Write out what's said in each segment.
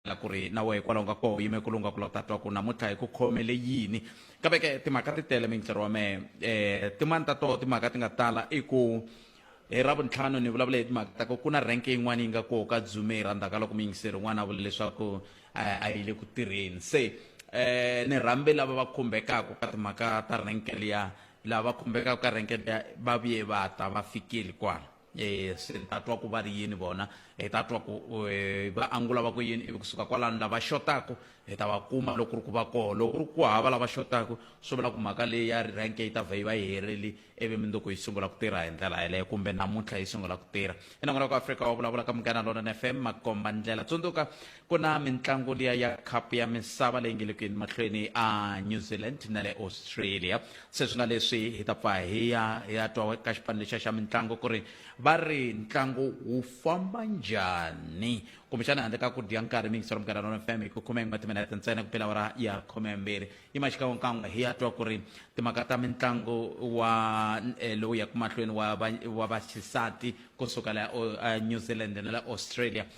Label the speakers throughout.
Speaker 1: la ku ri na wehe kwalaho nga koho yime ku lunga ku lota twa ku namuntlha hi ku khomele yini kambe ke timhaka ti tele minhlero wa mehe um eh, tin'wani ta toho timhaka ti nga tala i ku hi eh, ra vuntlhanu ni vulavula hi timhaka ta ku ku na renke yin'wana yi nga koho ka dzume hi rhandaka loko muyingiseri un'wana a vula leswaku eh, a yi le ku tirheni se um ni rhambe lava va khumbekaka ka timhaka ta renke liya lava va khumbekaka ka renke liya va vuye va ta va fikile kwala E, swi ta twa ku va ri yini vona hi ta twa ku e, va angula va ku yini ivi kusuka kwalano lava xotaku hi ta va kuma loko ku ri ku va koho loko ku ri ku hava lava xotaku swi vula ku mhaka leyi ya rank yi ta vhe yi va yi herile ivi minduku yi sungula ku tirha hi ndlela yeleyo kumbe namuntlha yi sungula ku tirha i nangona ku afrika wa vulavula ka munghana lona fm makomba ndlela tsundzuka ku na mitlangu liya ya khapu ya misava leyi nge le ku yeni mahlweni a new zealand na le australia se swi nga leswi hi ta pfa hi ya hi ya twa ka xipano lexiya xa mitlangu ku ri va ri ntlangu wu famba njhani kumbexana handle ka ku dya nkarhi mingiselo mugara rona fm hi ku khume n'we timinete ntsena ku pela wara ya khume mbirhi yi maxikan'wekan'we hi ya twa ku ri timhaka ta mitlangu wa eh, lowu yaku mahlweni wa va- wa vaxisati kusuka la o- a new zealand na la australia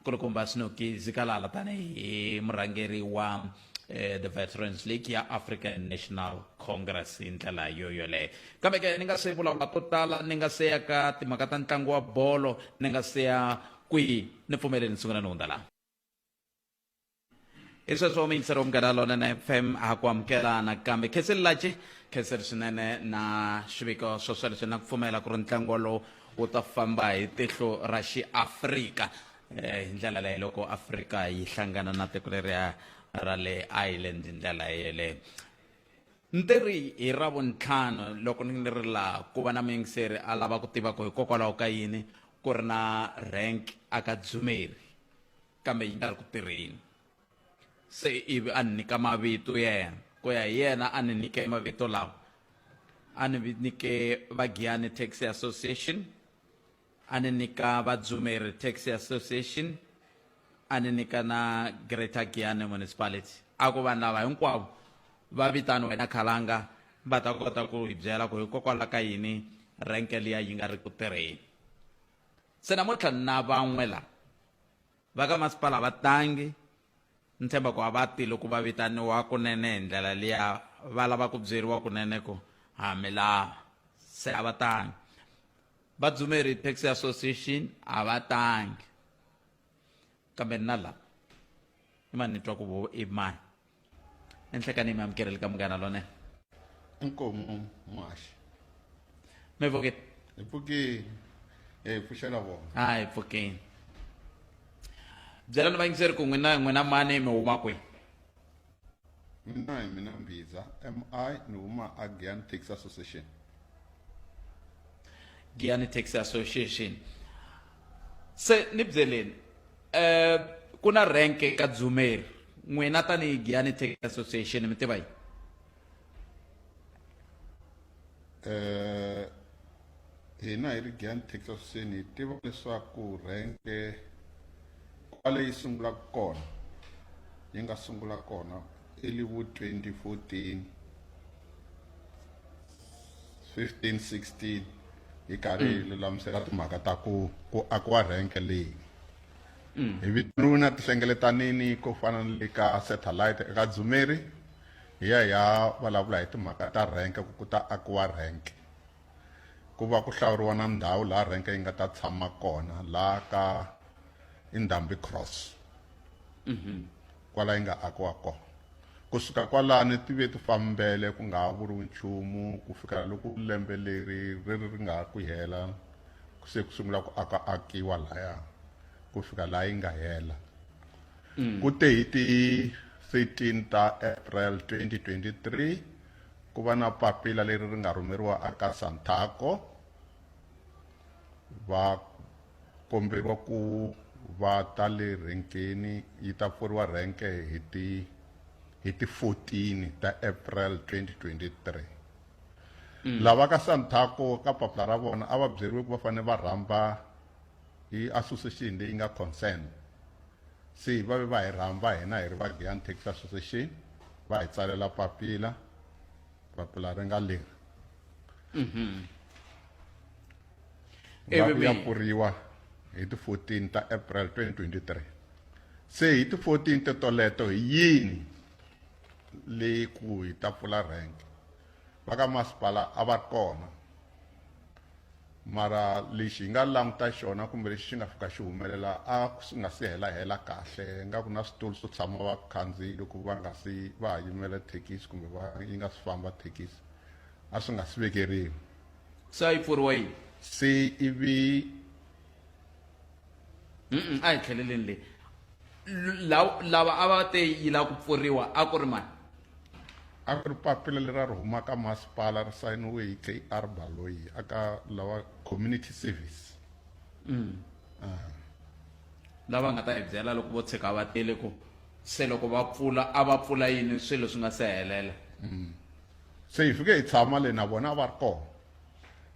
Speaker 1: nkulukumba snoki zikalala tanihi murhangeri wa eh, the veterans league ya african national congress hi ndlela yo yoleyo kambe ke ni nga se vulavula ko tala ni nga se ya ka timhaka ta ntlangu wa bolo ni nga se ya kwihi ni pfumeleni ni sungula ni hundza laha hi sweswo miyingiseri munghana lonene fm a ku amukela nakambe kheseli laci kheseli swinene na swiviko swo swa leswi na ku pfumela ku ri ntlangu wolowo wu ta famba hi tihlo ra xiafrika eh, hi ndlela leyi loko afrika yi hlangana na tiko leriya ra le ireland hi ndlela yeleyo ntirhi hi ra vuntlhanu loko ni ri laha ku va na muyingiseri a lava ku tiva ku hikokwalaho ka yini ku ri na rank aka dzumeri kambe yi nga ri ku tirheni se ivi a ni nyika mavito ya yena ku ya hi yena a ni nyike mavito lawa a ni nyike vagiyani taxi association a ni nyika vadzumeri taxi association a ni nyika na greater giyani municipality a ku vanhu lava hinkwavo va vitani wena khalanga va ta kota ku hi byela ku hikokwalaho ka yini renke liya yi nga ri ku tirheni Se namuntlha ni na van'we la va ka masipala a va tangi, ni tshemba ku a va ti loko va vitaniwa kunene hi ndlela liya va lava ku byeriwa kunene ku ha mi lava, se a va tangi. Vadzumeri, Taxi Association, a va tangi. kambe na la i mani ni twa ku vo i mani enhlekani mi amukeleli ka munghana lone inkomu
Speaker 2: um, muhaxi
Speaker 1: mi vukile hi
Speaker 2: pfukile hi pfuxela vona a hi pfukile
Speaker 1: byelani vayingiseri ku n'wina n'wina mani mi huma kwihi
Speaker 2: Mina hi mina Mbhiza, MI, ni huma a Giyani Taxi Association.
Speaker 1: Giyani Taxi Association. Se ni byeleni eh ku na rank ka Dzumeri n'wina tanihi Giyani Taxi Association mi tiva yini?
Speaker 2: Eh Hina hi ri Giyani Texasini hi tiva leswaku rhenke kwale yi sungulaka kona yi nga sungula kona early vo 2014 15 16 hi karhi hi lulamisela timhaka ta ku ku akiwa rhenke leyi hi vitaniwe na tihlengeletanini ko fana ni le ka satellite eka dzumeri hi ya hi ya vulavula hi timhaka ta rhenke ku ku ta akiwa rhenke ku va ku hlawuriwa na ndhawu laha renke yi nga ta tshama kona laha ka indhambi cross mhm. kwala yi nga akiwa kona kusuka kwalani ti ve ti fambele ku nga ha vuriwi nchumu ku fika loko lembe leri ri ri nga ha ku hela se ku sungula ku aka akiwa laya ku fika laha yi nga hela mm. ku te hi ti 13 ta april 2023 Ku va na papila leri ri nga rhumeriwa aka Santaco, va komberiwa ku va ta le rhenkeni, yi ta pfuriwa rhenke hi ti hi ti 14 ta April 2023. Lava ka Santaco ka papila ra vona a va byeriwe ku va fanele va rhamba hi association leyi nga concern. Se va ve va hi rhamba hina hi ri va Giyani Taxi Association va hi tsalela papila papila ri nga leri Ivi va ku ya mi- pfuriwa hi ti 14 ta April 2023 se hi ti 14 te toleto hi yini leyi ku hi ta pfula rank va ka masipala a va ri kona Mara lexi hi nga languta xona kumbe lexi xi nga fika xi humelela a swi nga si hela hela kahle nga ku na switulu swo tshama vakhandziyi loko va nga si va ha yimela thekisi kumbe va yi nga si famba thekisi a swi nga si vekeriwa Se a
Speaker 1: yi pfuriwa yini? se ivi a hi tlheleleni leyi lava a va te yi lava ku pfuriwa a ku ri mani a
Speaker 2: ku ri papila leri a ri huma ka masipala ri sayiniwe hi kr baloyi aka lava community service mm. ah.
Speaker 1: lava nga ta hi byela loko vo tshika va tele ku se loko va pfula a va pfula yini swilo swi nga se helela mm.
Speaker 2: se hi fike hi tshama le na vona a va ri kona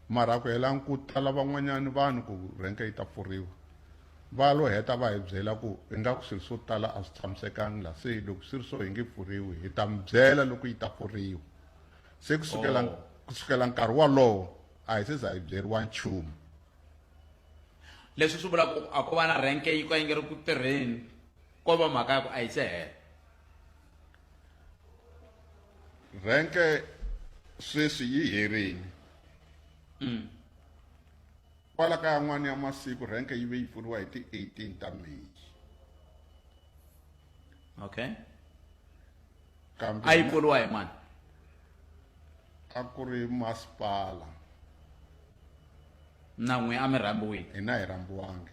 Speaker 2: mara ku hela ku tala van'wanyana vanhu ku renke yi ta pfuriwa va lo heta va hi byela ku ingaku swilo swo tala a swi tshamisekangi la se loko swi ri so hi nge pfuriwi hi ta mi byela loko yi ta pfuriwa se kusukela oh. kusukela nkarhi wolowo a hi se za hi byeriwa nchumu
Speaker 1: leswi swi vula ku a ko va na renke yi ka yi nge ri ku tirheni ko va mhaka ya ku a yi se hela
Speaker 2: rhenke sweswi yi herini mm. kwala ka yan'wana ya masiku rhenke yi ve yi pfuriwa hi ti-18 ta may
Speaker 1: okay
Speaker 2: kambe a yi pfuriwa hi
Speaker 1: mani
Speaker 2: a ku ri masipala
Speaker 1: na n'wi a mi rhambiwile hina hi rhambiwangi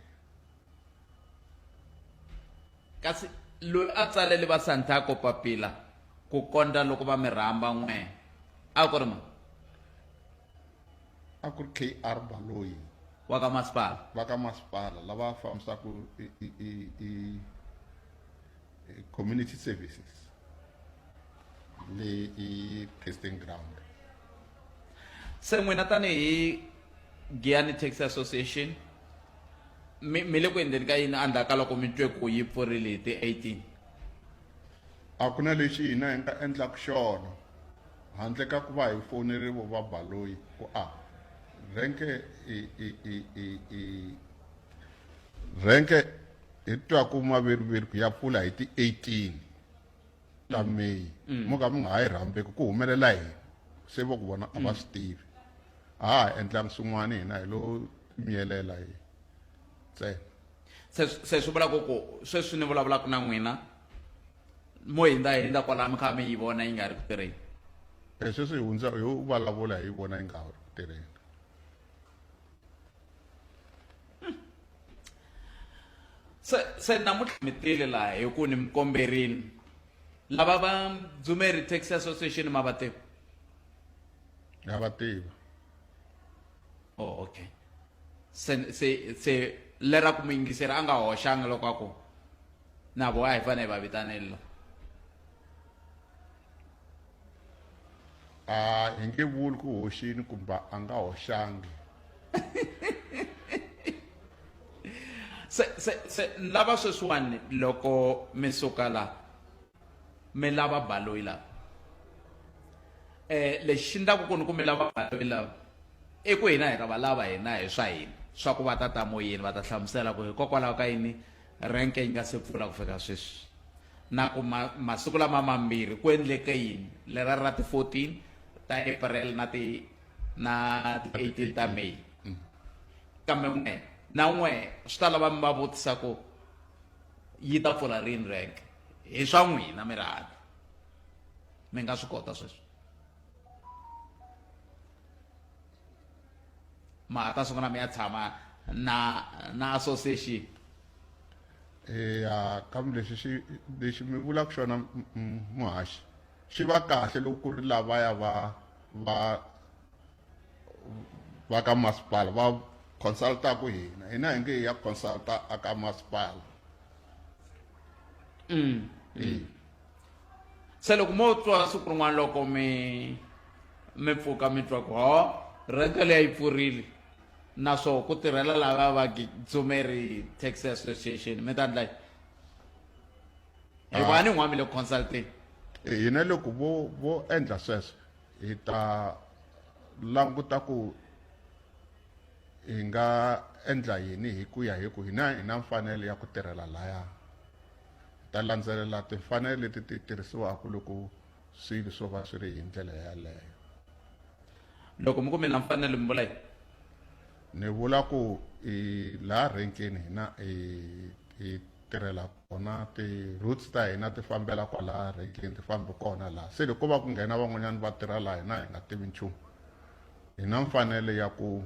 Speaker 1: kasi loyi a tsalele vasanthako papila ku kondza loko va mi rhamba n'we a ku ri ma
Speaker 2: a ku ri kr baloyi wa ka masipala
Speaker 1: va ka masipala
Speaker 2: lava fambisaka eh, community services leyi i testing ground
Speaker 1: se n'wina tanihi giyani taxi association mi mi le ku endleni ka yini endzhaku ka loko mi twe ku yi pfurile hi ti-18
Speaker 2: a ku na lexi hina hi nga endlaka xona handle ka ku va hi fonerivo va baloyi ku a renke i i i i i Rhenke hi twaku maviriviri ku ya pfula hi ti 18 ta mm. May mm. mo ka mi nga ha yi rhambeki ku humelela yini se vo ku vona a va mm. swi tivi a ha endlangi swin'wana hina hi lo miyelela hi ntsena
Speaker 1: se swi vula ku ku sweswi ni vulavulaka na n'wina mo hindza hindza kwalaya mi kha mi yi vona yi nga ri ku tirheni e
Speaker 2: sweswi hi hundza hi vulavula hi vona yi nga ri ku tirheni
Speaker 1: se se namuntlha mi tile laha hi ku ni mi komberini lava va dzumeri taxi association ma va tiva
Speaker 2: na va tiva
Speaker 1: oh okay se se se lera ku mi yingiseri a nga hoxanga loko a ku na vo a hi fanele hi va vitanela
Speaker 2: a hi nge vuli ku hoxini kumbe a nga hoxangi
Speaker 1: se se se ni lava sweswiwani loko mi suka la mi lava baloyi lava eh lexi ndlaku ku ni ku mi lava baloyi lava i ku hina hi ta va lava hina hi swa hina swa ku va ta ta moyeni va ta hlamusela ku hikokwalaho ka yini Rhenke yi nga se pfula ku fika sweswi, na ku ma, masiku lama mambirhi ku endleke yini, lera ra ti 14 ta April na ti na ti 18 ta May. Kambe n'we na n'we swi ta lava mi va vutisa ku yi ta pfula rini rhenke, hi swa n'wina mi ri handle, mi nga swi kota sweswo. ma ta sungula mi ya tshama na na association eya
Speaker 2: kambe lexi xi lexi mi vulaka xona muhaxi xi va kahle loko ku ri lavaya va va va ka masipala va consultaku hina hina hi nge hi ya consulta a ka masipala mm. mm.
Speaker 1: se loko mo twa siku rin'wana loko mi mi pfuka mi twa ku ho rente leyi yi pfurile na swo ku tirhela lava va dzumeri taxi association mi ta ndla hi va ni n'wami le consulting hina
Speaker 2: loko vo vo endla sweswo hi ta languta ku hi nga endla yini hi ku ya hi ku hina hi na mfanelo ya ku tirhela laya Hi ta landzelela timfanelo leti ti tirhisiwaka loko swilo swo va swi ri hi ndlela yaleyo.
Speaker 1: Loko mi ku mi na mfanelo mi vula yini? Ni
Speaker 2: vula ku hi laha renkeni hina hi hi tirhela kona ti-routes ta hina ti fambela kwalaha renkeni ti fambi kona laha se loko ko va ku nghena van'wanyana va tirha laha hina hi nga tivi nchumu hi na mfanelo ya ku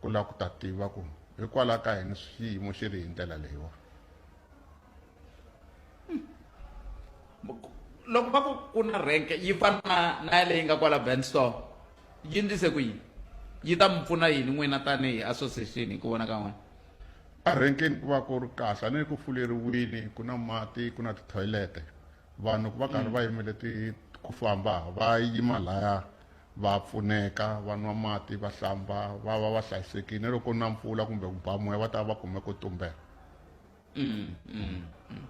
Speaker 2: ku lava ku ta tiva ku hikwalaho ka yini xiyimo xi ri hi ndlela leyiwani.
Speaker 1: loko va ku ku na rank yi fana na na ya leyi nga kwala band store yi ndlise ku yini yi ta mi pfuna yini n'wina tanihi association hi ku vona ka n'wina erenkeni
Speaker 2: ku va ku ri kahle a ne ku fuleriwini ku na mati ku na tithoyilete vanhu ku va karhi va yimele ti ku famba va yima laya va pfuneka va nwa mati va hlamba va va va hlayisekile loko na mpfula kumbe ku ba moya va ta va va kume ku tumbela Mm, mm, mm.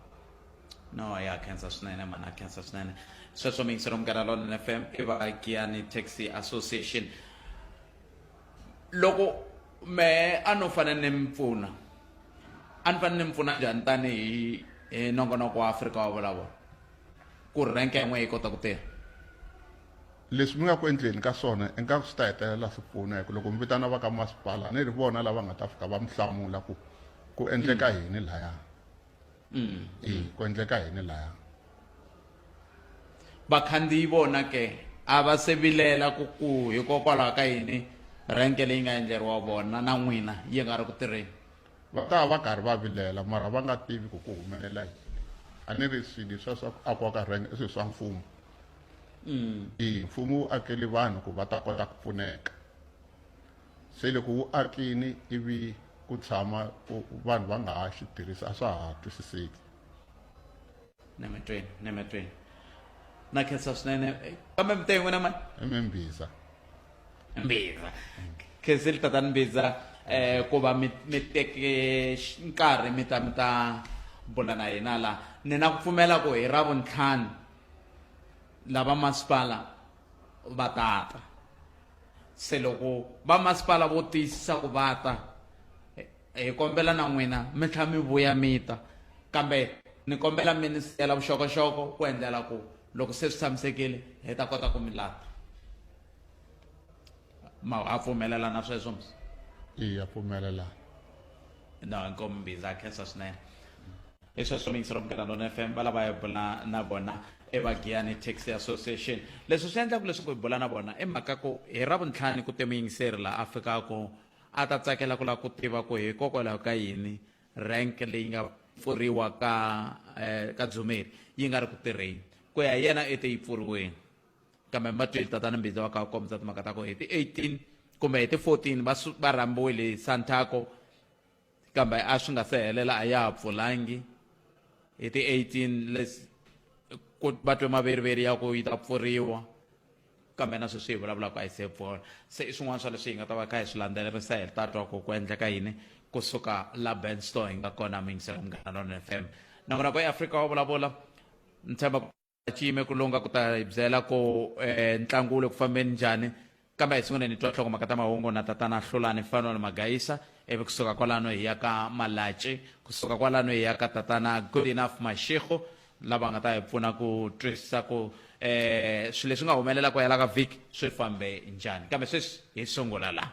Speaker 1: no ya khensa swinene mani a khensa swinene sweswo mi yingisela munghana lonene f m i vaakiyani taxi association loko me a no fanele ni mi pfuna a ni fanele ni mi pfuna njhani tanihi hi nongonoko wa afrika wa vulavula ku ri renke yin'we yi kota ku tirha
Speaker 2: leswi mi nga ku endleni ka swona ingaku swi ta hetelela swi pfuna hi ku loko mi vitana va ka masipala ni ri vona lava nga ta fika va mi hlamula ku ku endleka mm. yini laya mm. e ku endleka yini laya
Speaker 1: vakhandziyi vona ke a va se vilela ku ku hikokwalaho ka yini renke leyi nga endleriwa vona na n'wina yi nga ri ku tirheni va ta va va
Speaker 2: karhi va vilela mara va nga tivi ku ku humelela yini a ni ri swilo swa swa ku akiwa ka rhenge i swilo swa mfumo mm. i mfumo wu akeli vanhu ku va ta kota ku pfuneka se loko wu akini ivi ku tshama vanhu va nga ha xi tirhisa a swa ha twisiseki Ne matreni,
Speaker 1: ne matreni. Na khetsa swinene eh, kambe mi te n'wina mani emimbiza
Speaker 2: mbiza
Speaker 1: khenseli tatani mbiza eh ku va mi mi teke x- nkarhi mi ta mi ta bula na hina la ni na ku pfumela ku hi ra vuntlhanu lava masipala va ta ta se loko va masipala vo tiyisisa ku va ta eh, Hi kombela na n'wina mi tlhela mi vuya mi ta kambe ni kombela mi ni siyela vuxokoxoko ku endlela ku loko se swi tshamisekile hi ta kota ku mi lata ma ha pfumelela na sweswo msi iya
Speaker 2: pfumelela
Speaker 1: no inkomu mbiza a khensa swinene hi sweswo mingiselo munghana lona f m va lava hi bula na vona i vagiyani taxi association leswi swi endlaku leswaku hi bula na vona i mhaka ku hi ra vuntlhani ku te muyingiseri laha a fikaka A ta tsakela ku lava ku tiva ku hikokwalaho ka yini rank leyi nga pfuriwa ka ka Dzumeri yi nga ri ku tirheni. Ku ya hi yena i te yi pfuriweni kambe ma twile tatana Mbhiza va kha va kombisa timhaka ta ku hi ti 18 kumbe hi ti 14 va va rhambiwile hi Santaco kambe a swi nga se helela a ya ha pfulangi hi ti 18 lesi ku va twe maveriveri ya ku yi ta pfuriwa kambe na sweswi hi vulavulaka a yi se pfula se i swin'wana swa leswi hi nga ta va kha hi swi landzelerisa hi ta twa ku ku endleka yini kusuka la benstore hi nga kona mingisela munghana lona fm na vona ku eafrika wa vulavula ni tshemba chiyime ku lunga ku ta hi byela ku um ntlangu wu le ku fambeni njhani kambe hi sungule ni twa nhlokomhaka ta mahungu na tatana hlulani mfana ni magayisa ivi kusuka kwalano hi ya ka malaci kusuka kwalano hi ya ka tatana good enough mashego lava nga ta hi pfuna ku twisisa ku um eh, swilo leswi nga humelela ku hela ka vhiki swi fambe njhani kambe sweswi hi sungula laha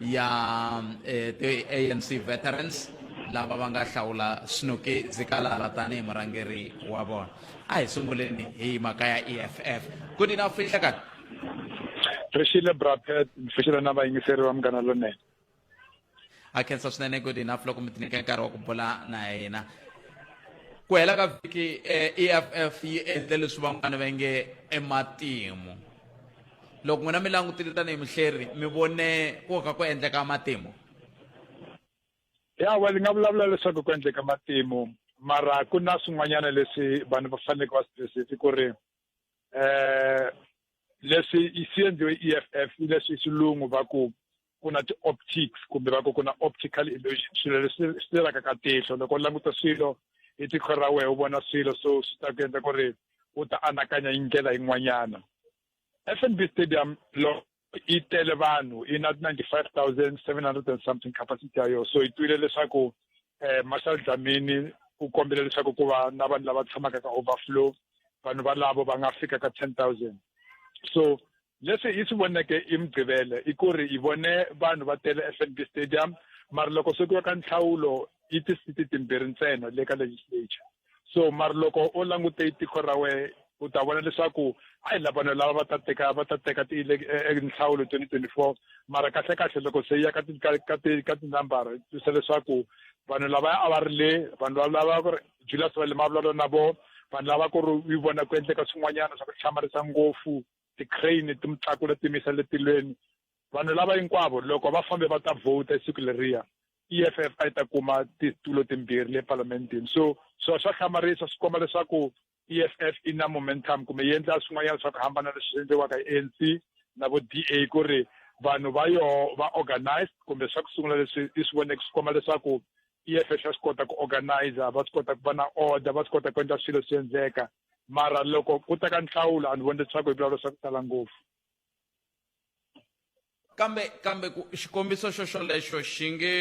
Speaker 1: ya eh, ti-anc veterans lava va nga hlawula snoki zikalala tanihi murhangeri wa vona a hi sunguleni hi mhaka ya eff ku ni na fihlekani
Speaker 3: ri xile brapet ni fixile na vayingiseri va munghana lonene
Speaker 1: a khensa swinene good enough loko mi tinike nkarhi wa ku bula na hina ku hela ka vhiki eff eh, e yi endle leswi van'wana va nge ematimu loko n'wina mi langutile tanihi muhleri mi vone ku ka ku endleka matimu ya
Speaker 3: wa ni nga vulavula leswaku ku endleka matimu mara ku na swin'wanyana leswi vanhu va faneleke va swi twisisi ku ri eh leswi swi endliwe i e f f leswi xilungu va ku ku na ti-optics kumbe va ku ku na optical illusion swilo leswi swi tirhaka ka tihlo loko u languta swilo hi tikho ra wehe u vona swilo so swi ta ku endla ku ri u ta anakanya hi ndlela yin'wanyana FNB Stadium loko yi tele vanhu yi na 95700 and something capacity ya yona so yi twile leswaku eh Marshal Dlamini u kombile leswaku ku va na vanhu lava tshamaka ka overflow vanhu valavo va nga fika ka 10000 so leswi yi swi voneke i mugqivele i ku ri yi vone vanhu va tele FNB Stadium mara loko swi ku ka nhlawulo yi tisiti timbirhi ntsena le ka legislature so mara loko u langute tiko ra wehe u ta vona leswaku a hi lavanhu lava va ta teka va ta teka tinhlawulo e, e, twenty twenty four mara kahle kahle loko se ya ka ka tinambara twisa leswaku vanhu lava a va ri le vanhu lava ku ri julius va le mavulavula na vo vanhu lava ku ri yi vona ku endleka swin'wanyana swa ku hlamarisa ngopfu ti-crane ti mi tlakula ti mi yisa letilweni Vanhu lava hinkwavo loko va fambe va ta vhota hi siku leriya EFF a yi ta kuma titulo timbirhi le parlamentini so so swa hlamarisa swi komba leswaku EFF i na momentum kumbe yi endla swin'wanyana swa ku hambana leswi endliwaka hi ANC na vo DA ku ri vanhu va yoho va organized kumbe swa ku sungula leswi i swi voneke swi komba leswaku EFF ya swi kota ku organizer va swi kota ku va na order va swi kota ku endla swilo swi endleka mara loko ku ta ka nhlawulo a ni voni leswaku hi vulavula swa ku tala ngopfu
Speaker 1: kambe kambe ku xikombiso xo xolexo xi nge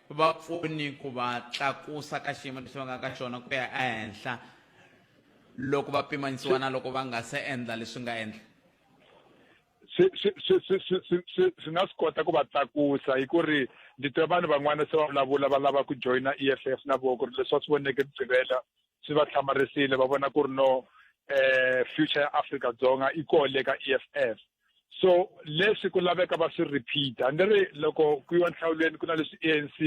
Speaker 1: va pfuni ku va tlakusa ka xiyimo lexi va nga ka xona ku ya ehenhla loko va pimanisiwa na loko va nga se endla leswi nga endla
Speaker 3: swi nga swi kota ku va tlakusa hi ku ri ndzi twe vanhu van'wana se va vulavula va lava ku joyina E_F_F na vona ku ri leswi va swi voneke ku gqivela swi va hlamarisile va vona ku ri no eh future ya Africa Dzonga i ko le ka EFF so leswi ku laveka va swi repeater ni ri loko ku yiwa nhlawulweni ku na leswi ANC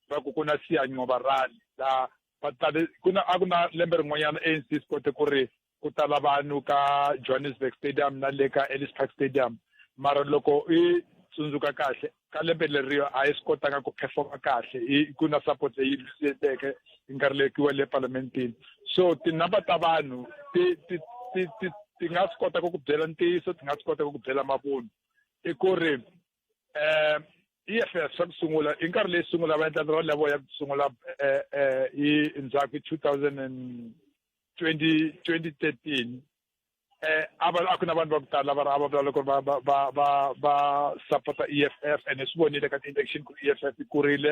Speaker 3: va ku ku na siyancoba rally la va tale ku na a ku na lembe rin'wanyana ANC swi kote ku ri ku tala vanhu ka Johannesburg Stadium na le ka Ellis Park Stadium mara loko i tsundzuka kahle ka lembe leriyo a yi swi kotanga ku performa kahle i ku na support leyi lwisiteke yi nga rilekiwa le parlamentini so tinumber ta vanhu ti ti ti ti ti nga swi kota ku ku byela ntiyiso ti nga swi kota ku ku byela mavunwa i ku ri um EFF swa ku sungula i nkarhi leyi sungula va endla ra level ya ku sungula eh, eh, hi ndzhaku two thousand and twenty twenty thirteen eh a va a ku na vanhu va ku tala va ri a va vula loko va va va va va support EFF and swi vonile ka ti-election ku EFF yi kurile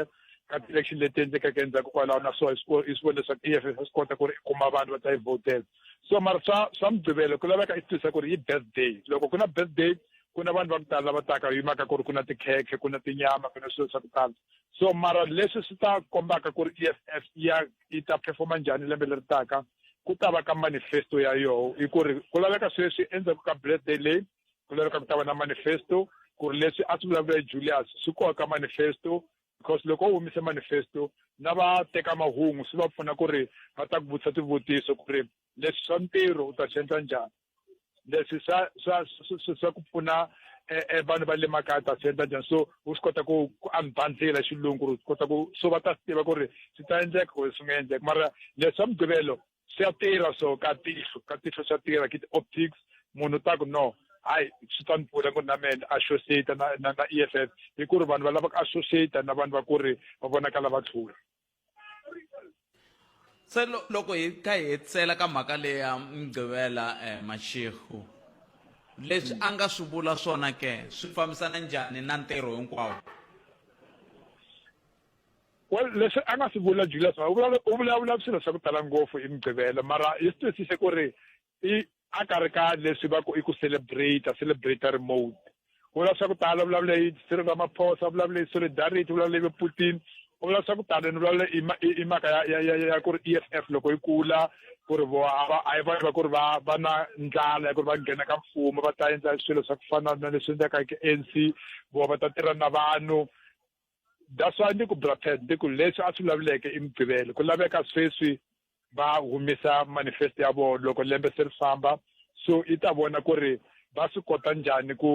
Speaker 3: ka ti-election leti endlekeke endzhaku kwalaho na so i swi vone leswaku EFF swi kota ku ri i kuma vanhu va ta yi votela so mara swa swa mugqivelo ku laveka i tisa ku ri yi birthday loko ku na birthday ku na vanhu va ku tala lava taka hi mhaka ku ri ku na tikhekhe ku na tinyama ku na swilo swa ku tala so mara leswi swi ta kombaka ku ri e f f ya yi ta performa njhani lembe leri taka ku ta va ka manifesto ya yoho hi ku ri ku laveka sweswi endzhaku ka birthday leyi ku laveka ku ta va na manifesto ku ri leswi a swi vulavula hi julius swi koka ka manifesto because loko u humise manifesto na va teka mahungu swi va pfuna ku ri va ta ku vutisa swivutiso ku ri leswi swa ntirho u ta swi endla njhani leswi swa swa swa ku pfuna eh, eh, vanhu va le makaya ta swi endla njhani so u swi kota ku ku unbundlela xilungu ku ri kota ku so va ta swi tiva ku ri swi ta endleka kumbe swi nga endleka mara leswi swa mugqivelo swi ya tirha so ka tihlo ka tihlo swa tirha ki ti-optics munhu ta ku no hayi swi ta ni pfuna ku ri na mena associate na na na e f f hi ku ri vanhu va lava ku associate na vanhu va ku ri va vonakala va tlhula
Speaker 1: se loko hi kha hi hetsela ka mhaka leyi ya mgqivela um eh, maxehu leswi a nga swi vula swona ke swi fambisana njhani na ntirho hinkwawo
Speaker 3: well leswi a nga swi vula julius u vulavula swilo swa ku tala ngopfu i mgqivela mara hi swi twisise ku ri i a ka ri ka leswi va ku i ku celebrate celebratory mode u vulavula swa ku tala vulavula hi Cyril Ramaphosa vulavula hi solidarity vulavula hi Putin u vulavula swa ku tala ni vulavula i mhaka ya ya ya ku ri EFF loko yi kula ku ri vo a va a yi va ku ri va va na ndlala ya ku ri va nghena ka mfumo va ta endla swilo swa ku fana na leswi endlaka hi ANC vo va ta tirha na vanhu that's why ndi ku brother ndi ku leswi a swi vulavuleke i mugqivelo ku laveka sweswi va humesa manifesto ya vona loko lembe se ri famba so i ta vona ku ri va swi kota njhani ku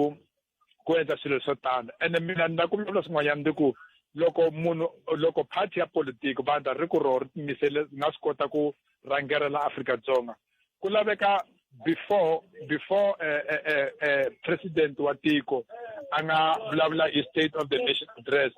Speaker 3: ku endla swilo swo tano ene mina ni na ku vulavula swin'wanyana ndi ku loko munhu loko party ya politiki vandla ri ku roho ri timisele nga swi kota ku rhangela la Afrika-Dzonga ku laveka before before uh, uh, uh, uh, president wa tiko a nga vulavula hi state of the nation address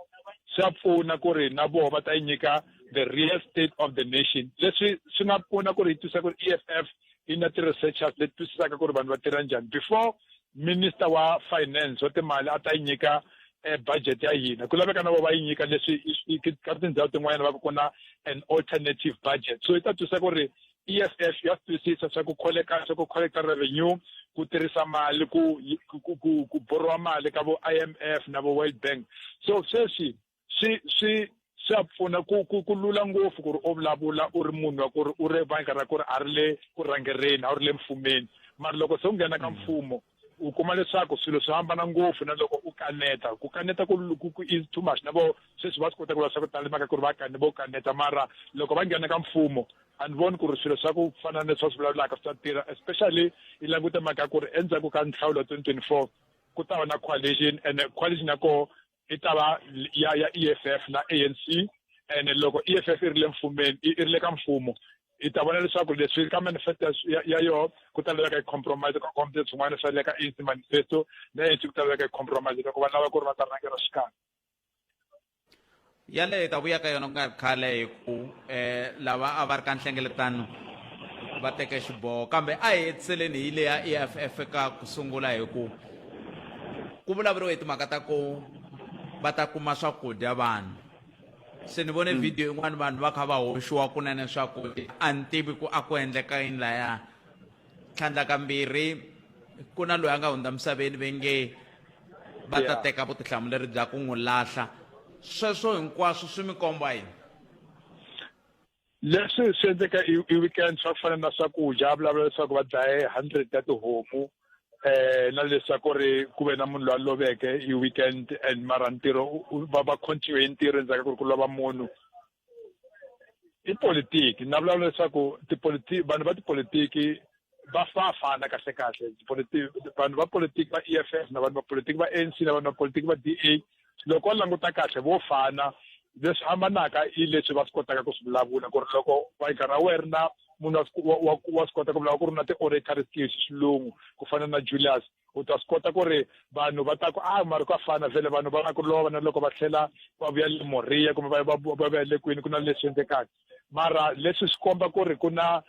Speaker 3: swa pfuna ku ri na voho va ta yi nyika the real state of the nation leswi swi nga pfuna ku ri yi twisisa ku ri e f f yi na ti-researchers leti twisisaka ku ri vanhu va tirha njhani before minister wa finance wa timali a ta yi nyika eh, budget ya hina ku laveka na vo va yi nyika leswi ka tindhawu tin'wanyana va ku ku na an alternative budget so yi ta twisa ku ri EFF ya twisisa swa ku collect swa ku collect revenue ku tirhisa mali ku ku ku, ku borrowa mali ka vo IMF na vo World Bank so sweswi swi swi swa pfuna ku ku ku lula ngopfu ku ri u vulavula u ri munhu wa ku ri u ri bangi ra ku ri a ri le ku rhangereni a wu ri le mfumeni mara loko se u nghena ka mfumo u kuma leswaku swilo swi hambana ngopfu na loko u kaneta ku kaneta ku ku is too much na vo sweswi va swi kota ku va swa ku tala mhaka ku ri va kane vo kaneta mara loko va nghena ka mfumo a ni voni ku ri swilo swa ku fana na leswi va swi vulavulaka swi ta tirha especially i languta mhaka ku ri endzhaku ka nhlawulo twenty twenty four ku ta va na coalition and coalition ya koho i ta va ya ya EFF na ANC and loko EFF i ri le mfumeni i ri le ka mfumo i ta vona leswaku leswi ka manifesto ya, ya yoho ku ta laveka compromise ka kombe swin'wana swa le ka ANC manifesto na ANC ku ta laveka compromise loko va lava ku ri va ta rhangela xikan'we
Speaker 1: yaleyo hi ta vuya ka yona ku nga ri khale hi ku um eh, lava a va ri ka nhlengeletano va teke xiboho kambe a hi hetiseleni hi leya eff ka ku sungula hi ku ku vulavuriwe hi timhaka ta ku va ta kuma swakudya vanhu se ni vone hmm. video yin'wana vanhu va kha va hoxiwa kunene swakudya a ni tivi ku a ku endleka yini laya tlhandlakambirhi ku na loyi a nga hundza misaveni ve nge va ta teka vutihlamuleri bya ku n'wi lahla sweswo hinkwaswo swi mi komba yini
Speaker 3: leswi swi endleka i i weekend swa ku fana na swakudya a vulavula leswaku va dlaye hundred ta tihomu eh na leswaku ri ku ve na munhu loyi a loveke i weekend and mara ntirho u- u- va va continue hi ntirho endzhaku ka ku ri ku lova munhu i politiki na vulavula leswaku tipolitiki vanhu va tipolitiki va fa fana kahle kahle tipolitiki vanhu va politiki va EFF na vanhu va politiki va ANC na vanhu va politiki va DA loko languta kahle vo fana leswi hambanaka i leswi va swi kotaka ku swi vulavula ku ri loko vayika ra werna munhu wa swi kota ku vulavula ku ri na ti-oratory skills xilungu ku fana na julius u ta swi kota ku ri vanhu va ta ku a ah, mari ku a fana vhele vanhu va na ku lova na loko va tlhela va vuya le moriya kumbe va va vuya le kwini ku na leswi endlekaka mara leswi swi komba ku ri ku na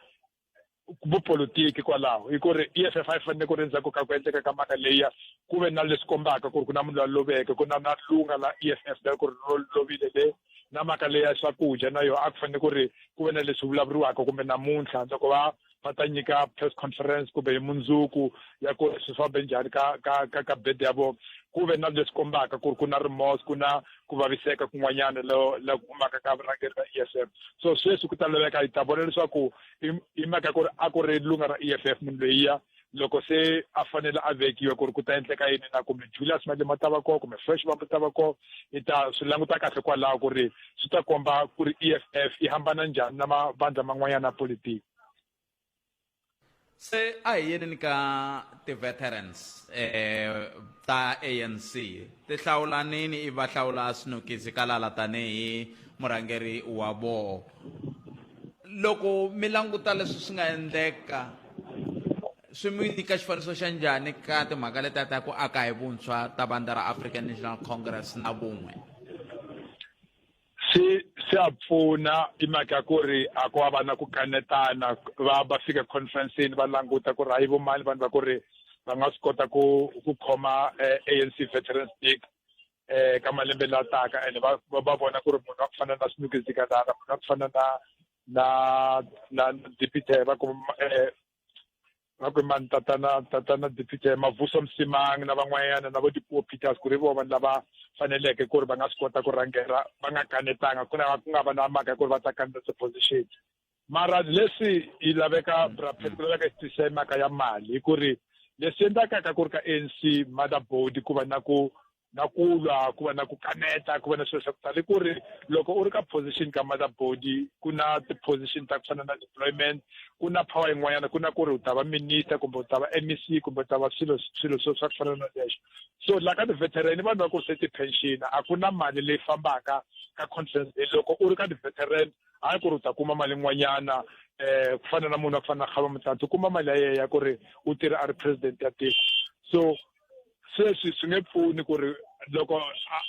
Speaker 3: vupolitiki kwalaho hi ku ri e f f a yi fanele ku ri endzhaku ka ku endleka ka mhaka leya ku ve na leswi kombaka ku ri ku na munhu la loveke ku na na lunga la e f f la ku ri lovile le na mhaka leya swakudya na yona a ku fanele ku ri ku ve na leswi vulavuriwaka kumbe namuntlha loko va va ta nyika press conference kumbe hi mundzuku ya ku ri swi fambe njhani ka ka ka ka bed ya vona ku ve na leswi kombaka ku ri ku na remorse ku na ku vaviseka kun'wanyana lo la ku humaka ka vurhangeri ra e f f so sweswi ku ta laveka hi ta vona leswaku hi mhaka ku ri a ku ri lunga ra e f f munhu loyiya loko se a fanele a vekiwa ku ri ku ta endleka yini na kumbe julius malema ta va koho kumbe fresh vambu ta va koho i ta swi languta kahle kwalaho ku ri swi ta komba ku ri e f f yi hambana njhani na mavandla man'wanyana ya politiki
Speaker 1: se a hi yeneni ka ti-veterans um ta anc ti hlawulanini i va hlawula swinokisi ka lala tanihi murhangeri wa voho loko mi languta leswi swi nga endleka swi mi nyika xifaniso xa njhani ka timhaka letiya ta ku aka hi vuntshwa ta vandla ra african national congress na vun'we swi
Speaker 3: swa pfuna hi mhaka ya ku ri a ku va va na ku kanetana va va fika conferenceni va languta ku ri hayi vo mani vanhu va ku ri va nga swi kota ku ku khoma eh, anc veterans stick eh ka malembe la taka ene va va vona ku ri munhu wa ku fana na sinuki zikalala munhu wa ku fana na na na dipithe va ku eh, ngakwe mani tatana tatana dipite mavuso msimangi na van'wanyana na vo dipuo peters ku ri vo vanhu lava faneleke ku ri va nga swi kota ku rhangela va nga kanetanga ku lava ku nga va na mhaka ku ri va ta kaneta tiposition mara leswi yi laveka brapet ku laveka xitisa hi mhaka ya mali hi ku ri leswi endlakaka ku ri ka anc motherboard ku va na ku na ku lwa ku va na ku kaneta ku va na swilo swa ku tala i ku ri loko u ri ka position ka mother body ku na ti-position ta ku fana na deployment ku na power yin'wanyana ku na ku ri u ta va minister kumbe u ta va m e c kumbe u ta va swilo swilo swo swa ku fana na leswo so la ka ti-veteran i vanhu va ku ri se ti-pension a ku na mali leyi fambaka ka conference e loko u ri ka ti-veteran hayi ku ri u ta kuma mali yin'wanyana um ku fana na munhu wa ku fana na khava mutlantsi u kuma mali ya yeya ku ri u tirha a ri president ya tiko so sweswi swi nge pfuni ku ri loko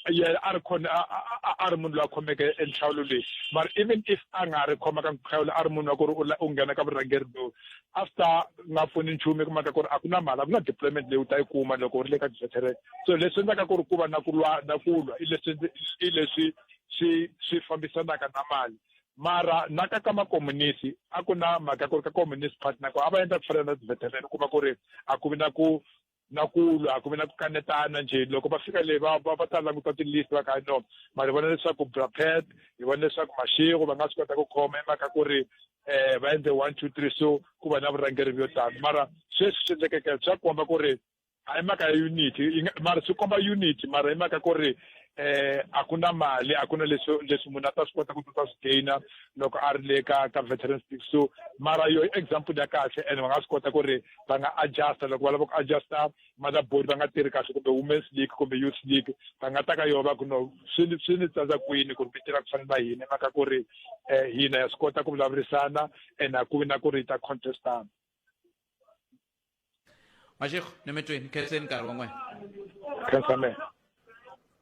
Speaker 3: yena a ri khona a ri munhu loyi a khomeke enhlawulo leyi mara even if a nga ri khoma ka nkhawulo a ri munhu wa ku ri u nghena ka vurhangeri lowu a swi ta nga pfuni nchumu ku maka ku ri a ku na mali a ku na deployment leyi u ta yi kuma loko u ri le ka deserteret so leswi endlaka ku ri ku va na ku lwa na ku lwa i leswi i leswi swi swi fambisanaka na mali mara na ka ka makomunisi a ku na mhaka ku ri ka communist party nako a va endla ku fana na tiveteran u kuma ku ri a ku vi na ku na ku lwa a ku vi na ku kanetana njhe loko va fika leyi va va ta languta tilist va ka no ma ri vona leswaku brapet hi vona leswaku maxingu va nga swi kota ku khoma i mhaka ku ri um va endle one two three so ku va na vurhangeri byo tano mara sweswi swi endlekeke swa komba ku ri a hi mhaka ya unity yi nga- mara swi komba unity mara hi mhaka ku ri eh a ku na mali a ku na leswi leswi munhu a ta swi kota ku ta swi gaina loko a ri le ka ka veterans league so mara yo i example ya kahle and va nga swi kota ku ri va nga adjusta loko va lava ku adjusta mother board va nga tirhi kahle kumbe women's league kumbe youth league va nga ta ka yona va ku no swi ni swi ni tsandza kwini ku ri mi tirha ku fana na hina hi mhaka ku ri eh hina ya swi kota ku vulavurisana and a ku vi na ku ri hi ta contestana
Speaker 1: mashego ni mi twi ni khenseni nkarhi wa n'wina khensamela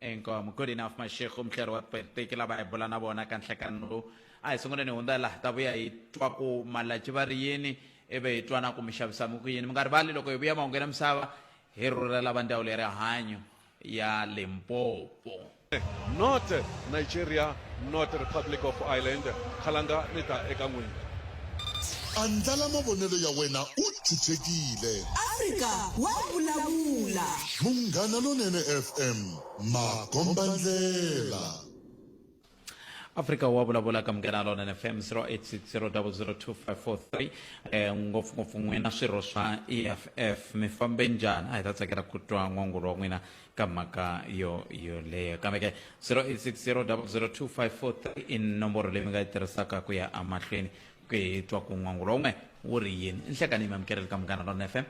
Speaker 1: inkomu good enough mashego muhleri wa tipolitiki lava hi bula na vona ka nhlekani lowu a hi sunguleni hi hundza laha ta vuya hi twa ku malaci va ri yini ivi hi twana ku mi xavisami ku yini mi nga rivali loko hi vuya mahungu ya misava hi rhurhela va ndhawu le rihanyo ya Limpopo. Not
Speaker 4: Nigeria, not Republic of Ireland. Khalanga ni ta eka n'wina.
Speaker 5: Andlala mavonelo ya wena u chuchekile. Afrika
Speaker 6: wa vulavula. Munghana
Speaker 5: Lonene FM, makombandlela. afrika
Speaker 1: wa vulavula ka munghena lona nfm 0860002543 eh, ngopfungopfu n'wina swirho swa eff mi fambe njhani a hi ta tsakela ku twa n'wangulo wa n'wina ka mhaka yo yoleyo kambe ke 0860002543 i nomboro leyi mi nga yi tirhisaka ku ya amahlweni ku hi twa ku n'wangulo wun'we wu ri yini nhlekani mi amukereli ka munghana lona fm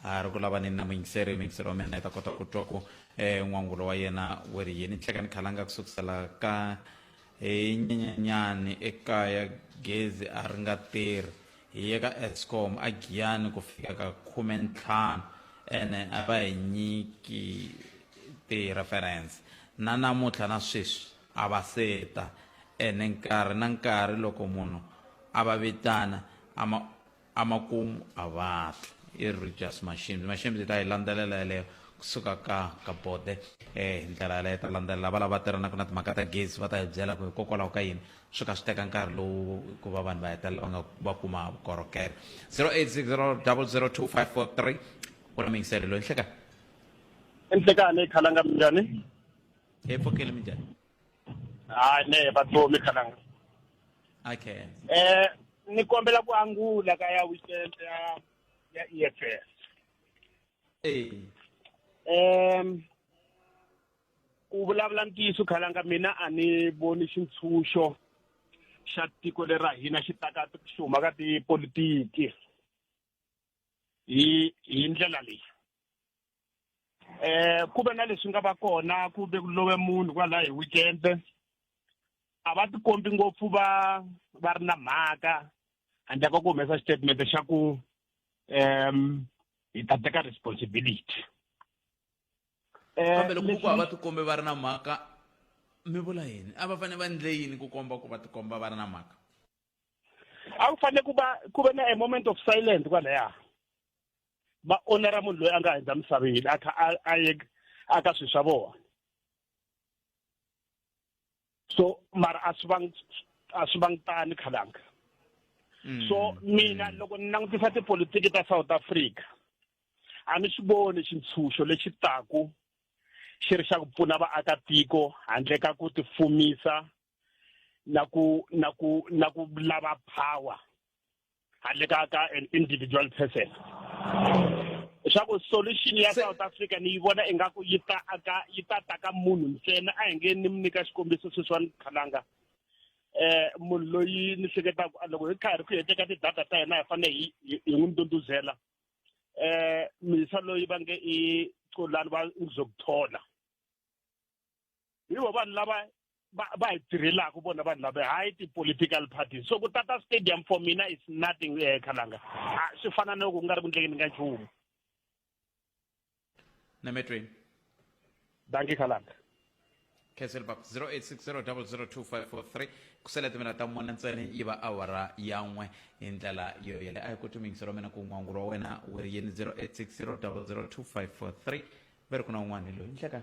Speaker 1: a ri ku lavaneni na muyingiseri muyingiseri wa mina i ta kota ku twa ku um n'wangulo wa yena wu ri yini tlheka ni khalanga ku sukusela ka hi nyenyanyani ekaya gezi a ri nga tirhi hi ye ka escom a giyani ku fika ka khume ntlhanu ene a va hi nyiki ti-reference na namuntlha na sweswi a va seta ene nkarhi na nkarhi loko munhu a va vitana a ma Emakumu a va fi. I Rogers Mashimzi. Mashimzi yi ta yi landzelela yeleyo ku suka ka ka bode eh, hi ndlela yaleyo yi ta landzelela va lava tirhanaka na timhaka ta gezi va ta hi byela ku hikokwalaho ka yini swi kha swi teka nkarhi lowu ku va vanhu va hetelela va nga va kuma vukorhokeri 0860 00254 u na mingiselelo hi nhlekani
Speaker 7: enhlekani khalanga minjhani hi pfukile
Speaker 1: minjhani ha
Speaker 7: ne vatomi kananga
Speaker 1: okay eh
Speaker 7: ni kombela ku angula ka ya weekend ya ya EFF eh em ku vulavula ntiyiso khalanga mina a ni voni xintshunxo xa tiko leri ra hina xi taka xi huma ka tipolitiki hi hi ndlela leyi eh ku ve na leswi nga va kona ku ve ku love munhu kwalaho hi weekend a va tikombi ngopfu va va ri na mhaka handle ka ku humesa xitatimende xa ku um hi ta teka responsibility
Speaker 1: kambe loko ku va tikombi va ri na mhaka mi vula yini a va fanele va endle yini ku komba ku va tikomba va ri na mhaka
Speaker 7: a ku fanele ku va ku ve na a moment of silence kwalaya va onera munhu loyi a nga hundza misaveni a kha a ye a ka swilo swa vona so mara a swi vangi a swi vangi tani khalanga mm. so mina mm. loko ni langutisa tipolitiki ta south africa a ni swi voni xintshunxo lexi taku xi ri xa ku pfuna vaakatiko handle ka ku tifumisa na ku na ku na ku lava power handle ka ka an individual person swa ku solution ya south africa ni yi vona ingaku yi ta aka yi ta ta ka munhu ntsena a hi nge ni mi nyika xikombiso sweswiwani khalanga eh munhu loyi ni hleketaka ah, loko hi karhi ku heteka ti-data ta hina hi fanele hi hi- hi n'wi ndunduzela eh misa loyi va nge i colani va ngizokuthola hi vo vanhu lava va va hi tirhelaka vona vanhu lava hayi ti-political parties so ku tata stadium for mina is nothing um eh, khalanga ah, swi fana no ku nga ri ku ndlekeni ka nchumu
Speaker 1: nametweni
Speaker 7: danki khalanga khansel
Speaker 1: bab 0860002543 kusele timina ta mune ntsena yi va awara yan'we hi ndlela yo yele a yi koti mingiselo mina ku n'wangu wa wena wu ri yini 0860002543 va ri ku na un'wana hi loyi ndleka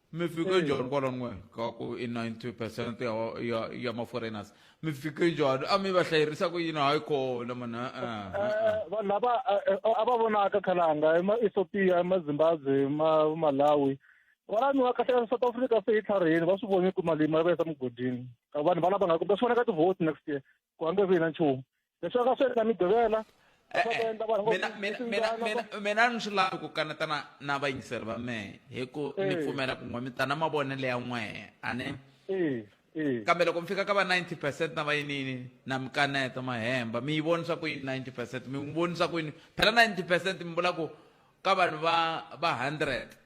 Speaker 1: mi fika eh. jor bolo n'we ka ku i 90 percent ya ya ya maforeigners mi fika jor a mi va hlayirisa ku yini hayi kona mani eh, eh, vanhu lava
Speaker 8: a va vonaka khalanga i maethiopia i mazimbabwe i malawi kwala mi wa kahle south africa se yi tlhariheni va swi voni ku malimi va yisa mugodini vanhu valava nga kumbe swi vona ka tivhoti next year ku hambi ku yina nchumu leswi aka swi endla
Speaker 1: migqivela eh, eh, mina ni swi lavi ku kaneta na na vayingiseri va mehe hi ku ni eh. pfumela ku n'we mi ta na mavonelo ya n'wehe a ne kambe loko mi fika ka va 90 percent na vayinini na mi kaneta mahemba mi yi vonisa ku yini 90 percent mi n'wi vonisa ku yini phela 90 percent mi vula ku ka vanhu va va 100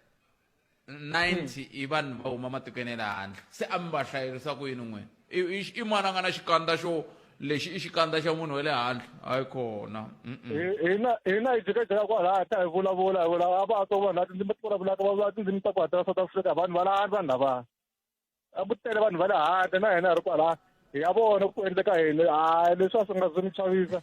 Speaker 1: 90 i vanhu va huma matikweni ya le handle se a mi va hlayerisa ku yini n'wina i, i, i mwana nga na xikandza xo lexi i xikandza xa munhu wa le handle hayi kona hina
Speaker 8: hina hi jikajika kwalaya ta hi vulavula hi vula a va to vanhu lati ndzimi ti vulavulaka va vula tindzimi ta ku hatela south africa vanhu va la vanhu lava a ku tele vanhu va le handle na hina hi ri kwala hi ya vona ku endleka yini hayi leswi a swi nga swi ni chavisa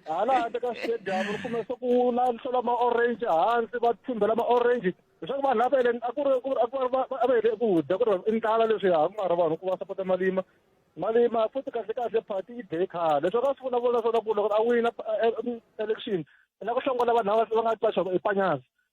Speaker 8: hala handle ka stadium ri kume se ku na hlola ma-orange hansi va thumbela ma-orange leswaku vanhu lava eleni a ku ri a ku a va hele ku dya ku ri i ndlala leswi ya ku mara vanhu ku va sapota malima malima futhi kahle kahle party yi dye khale leswaku a swi vulavula swona ku loko a wina election la ku hlongola vanhu lava va nga qaxaka i panyazi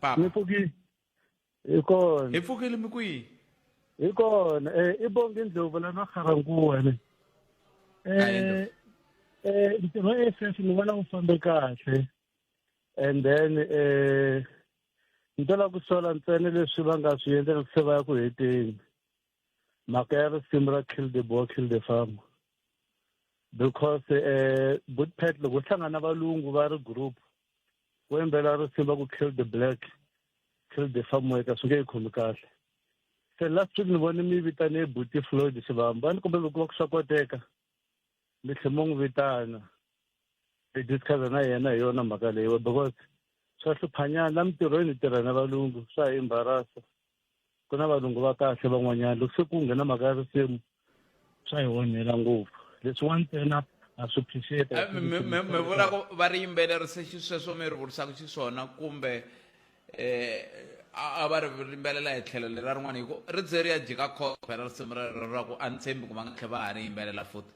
Speaker 1: papa ni pfukile
Speaker 8: hi kona hi pfukile mi kwihi
Speaker 1: hi kona
Speaker 8: um i bongi ndlovu la na kharankuwa ne um um ntirho wa a f ni vona wu fambe kahle and then um ni to lava ku sola ntsena leswi va nga swi endla loko se va ya ku heteni mhaka ya risimu ra kill the boy kill the farmer because um eh, bootpet loko hlangana valungu va ri group ku yimbelela risimu va ku kill the black kill the farmer eka swi nge yi khomi kahle se last week ni vone mi vitane buti floyd xivamba a ni kombela loko va ku swa koteka mi tlhe mo n'wi vitana hi discussa na yena hi yona mhaka leyiwa because swa hluphanyana la mintirhweni hi tirha na valungu swa hi embarasa ku na valungu va kahle van'wanyana loko se ku nghena mhaka ya risimu swa hi onhela ngopfu leswiwa ntsena a swi appreciate eh, mi vula ku
Speaker 1: va ri yimbelerisa xisweswo mi ri vurisaka xiswona kumbe eh, a va ri rimbelela hi tlhelo lera rin'wana hi ku ri ze ri ya jika khophe ra risimu rero ra ku a ni tshembi ku va nga tlhe va ha ri yimbelela futi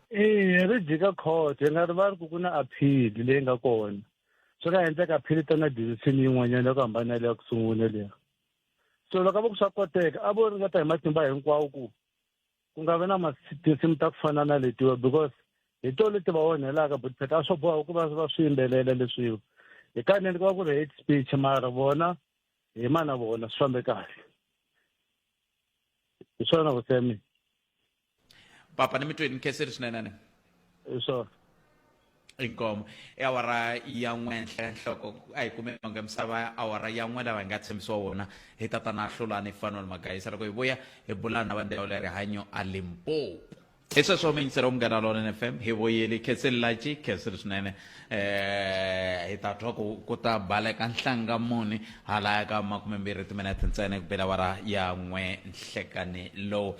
Speaker 8: eya ri jika khothe nga ri va ri ku ku na aphili leyi nga kona swi nga endleka aphili ta na decision yin'wanyana ya ku hambana leya ku sungula leya so loko a va ku swa koteka a vo ringeta hi matimba hinkwawo ku ku nga vi na tinsimu ta ku fana na letiwa because hi to leti va onhelaka but pheta a swo boha ku va va swi yimbelela leswiwa hi kanene ku va ku ri hate speech mara vona hi ma na vona swi fambe kahle hi swona vusemi
Speaker 1: papa ni mitweni
Speaker 8: ni khenseri
Speaker 1: swinene ni hi swona inkomo i awara ya n'we nhle nhloko a hi kume vange misava awara ya n'we lava hi nga tshembisiwa wona hi tatana hlulani fanuel magayisa loko hi vuya hi bulana na vandhawu le rihanyo a limpopo hi sweswo mingisero wa munghana lonene fm hi voyeli khenseli laci khenseli swinene um hi ta twa ku ku ta baleka nhlanga muni halaya ka makumembirhi timinete ntsena ku bela awara ya n'we nhlekani lowu